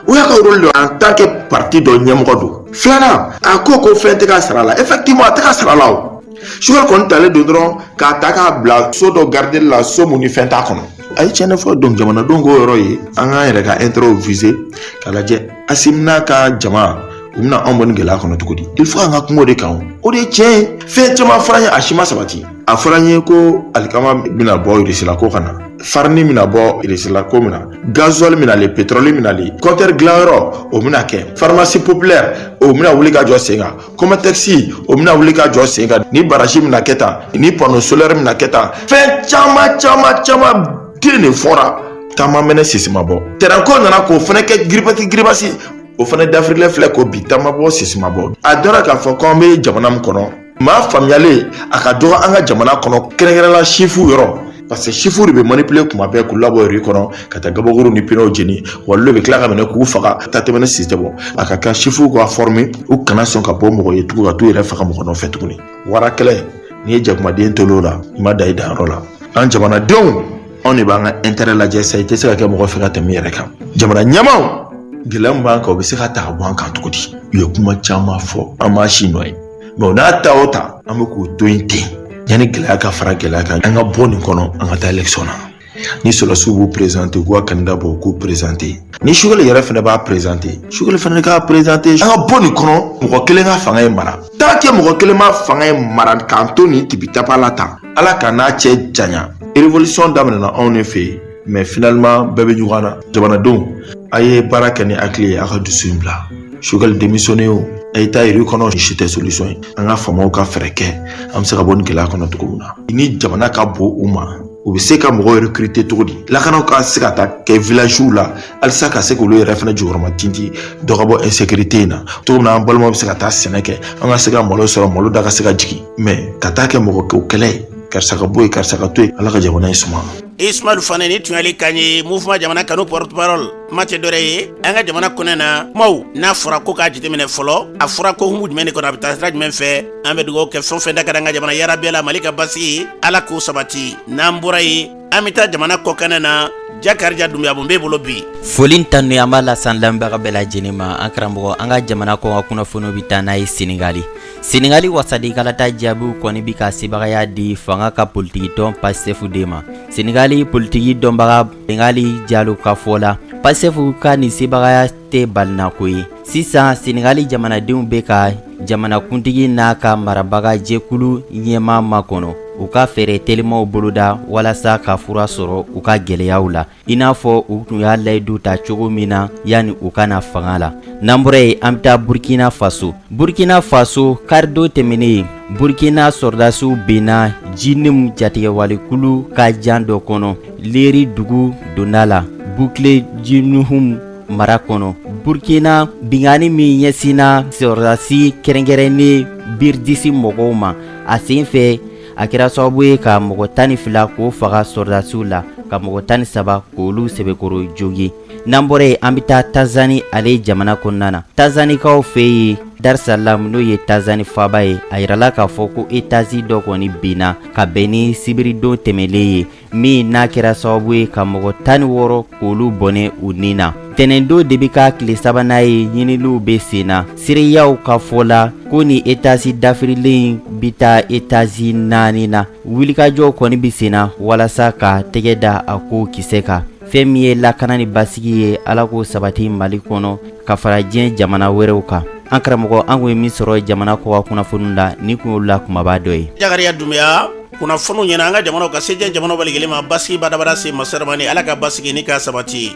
o y'a ka rôle de en tant que parti dɔ ɲɛmɔgɔ don filanan a ko ko fɛn tɛ ka sara la effectivement a tɛ ka sara la o Choguel kɔni talen don dɔrɔn k'a ta k'a bila so dɔ garideli la so mun ni fɛn t'a kɔnɔ a ye tiɲɛni fɔ donc jamanadenw k'o yɔrɔ ye an k'an yɛrɛ ka intérêt viser k'a lajɛ asimi n'a ka jama u bɛna anw bɔ nin gɛlɛya kɔnɔ cogo di il faut an ka kuma o de kan o de ye tiɲɛ ye fɛn caman fɔra an ye a si ma sabati a fɔra an ye ko alikama bɛna bɔ irisila ko ka na farini bɛna bɔ irisila ko min na gazuwali bɛna le petrɔli bɛna le kɔntɛri dilanyɔrɔ o bɛna kɛ farimasi popilɛri o bɛna wuli ka jɔ sen kan kɔmatɛkisi o bɛna wuli ka jɔ sen kan ni barasi bɛna kɛ tan ni pano solɛri bɛna kɛ tan fɛn caman caman caman de fɔra ta ma mɛnɛ sisi ma bɔ tɛrɛnko nana k'o fana kɛ giribasi giribasi o fana dafirilen filɛ ko bi ta ma bɔ sisi ma bɔ a dɔra k'a fɔ ko an bɛ jamana min kɔnɔ maa faamuyalen a ka dɔgɔ an ka jamana kɔnɔ kɛrɛnkɛrɛnla siwili yɔrɔ parce que siwiliw de bɛ manipule kuma bɛɛ k'u labɔ rue kɔnɔ ka taa gabakuru ni pinɛw jeni wa olu de bɛ tila k'u minɛ k'u faga ta tɛ mɛnɛ sisi tɛ bɔ a ka kan siwiliw ka fɔrime u kana sɔn ka bɔ mɔgɔ ye tugun ka t'u yɛrɛ faga mɔgɔ nɔfɛ tuguni wara kɛlɛ n'i ye jakumaden to o la i ma dan i danyɔrɔ la an jamanadenw anw de b'an ka intɛrɛ lajɛ sa i tɛ se ka kɛ mɔgɔ fɛ ka tɛmɛ i yɛrɛ kan jamana ɲɛmaaw gɛlɛya min b'an kan o bɛ se ka ta ka bɔ an kan cogo di u ye kuma caman fɔ an m'a si nɔ ye mɛ o n'a ta o ta an bɛ k'o to yen ten yanni gɛlɛya ka fara gɛlɛya kan an ka bɔ nin kɔnɔ an ka taa elɛkisiyɔn na ni sɔrɔdasiw b'u perezante u ka kandida bɔ u k'u perezante ni sogɛli yɛrɛ fana b'a perezante sogɛli fana k'a perezante an ka bɔ nin kɔnɔ mɔgɔ kelen ka fanga in mara tant que mɔgɔ kelen ma fanga in mara k'an to nin tibitapa la tan ala kan'a cɛ janya revolisɔn daminɛna anw ne fɛ yen mɛ finaliman bɛɛ bɛ ɲɔgɔn na jamanadenw a ye baara kɛ ni hakili ye a ka dusu in bila sogɛli demisiyone o a ye taa rue kɔnɔ si tɛ solisɔn ye an ka faamaw ka fɛɛrɛ kɛ an bɛ se ka bɔ nin gɛlɛya kɔnɔ cogo min na ni jamana ka bon u ma u bɛ se ka mɔgɔ rekirite cogo di lakana ka se ka taa kɛ vilaziw la halisa ka se k'olu yɛrɛ fana jukɔrɔmatintin dɔ ka bɔ insekirite in na cogo min na an balimaw bɛ se ka taa sɛnɛ kɛ an ka se ka malo sɔrɔ malo da ka se ka jigin mɛ ka taa kɛ mɔgɔ kɛlɛ ye karisa ka bɔ yen karisa ka to yen ala ka jamana in suma ismail fane nin tun y'ale kan ye mouvement jamana kanu porte parole maa tɛ dɔwɛrɛ ye an ka jamana kɔnɔna kumaw n'a fɔra ko k'a jateminɛ fɔlɔ a fɔra ko hukumu jumɛn de kɔnɔ a bɛ taa sira jumɛn fɛ an bɛ dugawu kɛ fɛn fɛn da ka di an ka jamana hɛrɛ b'a la mali ka basigi ala k'o sabati n'an bɔra yen an bɛ taa jamana kɔkanna na jakarija dumbuya bon b'e bolo bi foli tanu an b'a lasan lamɛnbaga bɛɛ lajɛlen ma an karamɔgɔ an ka jamana kɔkan kunnafoniw bɛ taa n'an ye senegali senegali wasadenkalata jaabiw kɔni bi ka sebagaya di fanga ka politikitɔn pasitɛfu de ma senegali politiki dɔnbaga bengali jalo ka fɔ la pasitɛfu ka nin sebagaya tɛ balinako ye sisan senegali jamanadenw bɛ ka jamanakuntigi n'a ka marabaga jɛkulu ɲɛmaa makɔnɔ u ka fɛɛrɛ telimaw boloda walasa ka fura sɔrɔ u ka gɛlɛyaw la i n'a fɔ u tun y'a layidu ta cogo min na yanni u ka na fanga la n'an bɔra yen an bɛ taa burkina faso burkina faso karidon tɛmɛnen burkina sɔrɔdasiw benna jinim jatigɛwalekulu ka jan dɔ kɔnɔ leri dugu donda la bukile di muhun mara kɔnɔ burukina binkanni min ɲɛsinna sɔrɔdasi kɛrɛnkɛrɛnnen biridisi mɔgɔw ma a sen fɛ a kɛra sababu ye ka mɔgɔ tan ni fila k'o faga sɔrɔdasiw la ka mɔgɔ tan ni saba k'olu sɛbɛkɔrɔ jogin n'an bɔra yen an bɛ taa tanzani ale jamana kɔnɔna na tanzanikaw fɛ yen darisalam n'o ye tanzani faaba ye a yirala k'a fɔ ko etazi dɔ kɔni binna ka bɛn ni sibiridon tɛmɛlen ye min n'a kɛra sababu ye ka mɔgɔ tan ni wɔɔrɔ k'olu bɔnɛ u ni na tɛnɛndon de bɛ k'a tile sabanan ye ɲiniliw bɛ sen na seereyaw ka fɔ la ko nin etazi dafirilen bɛ taa etazi naani na wulikajɔw kɔni bɛ sen na walasa ka tɛgɛ da a ko kisɛ kan fɛn min ye lakana ni basigi ye ala k'o sabati mali kɔnɔ ka fara diɲɛ jamana wɛrɛw kan an karamɔgɔ an kun ye min sɔrɔ jamana kɔkan kunnafoniw la nin kun y'olu la kumaba dɔ ye. Jakariya Dunbiya kunnafoniw ɲɛna an ka jamanaw ka se diɲɛ jamanaw bɛɛ lajɛlen ma basigi badabada se masa ramani ala ka basigi nin k'a sabati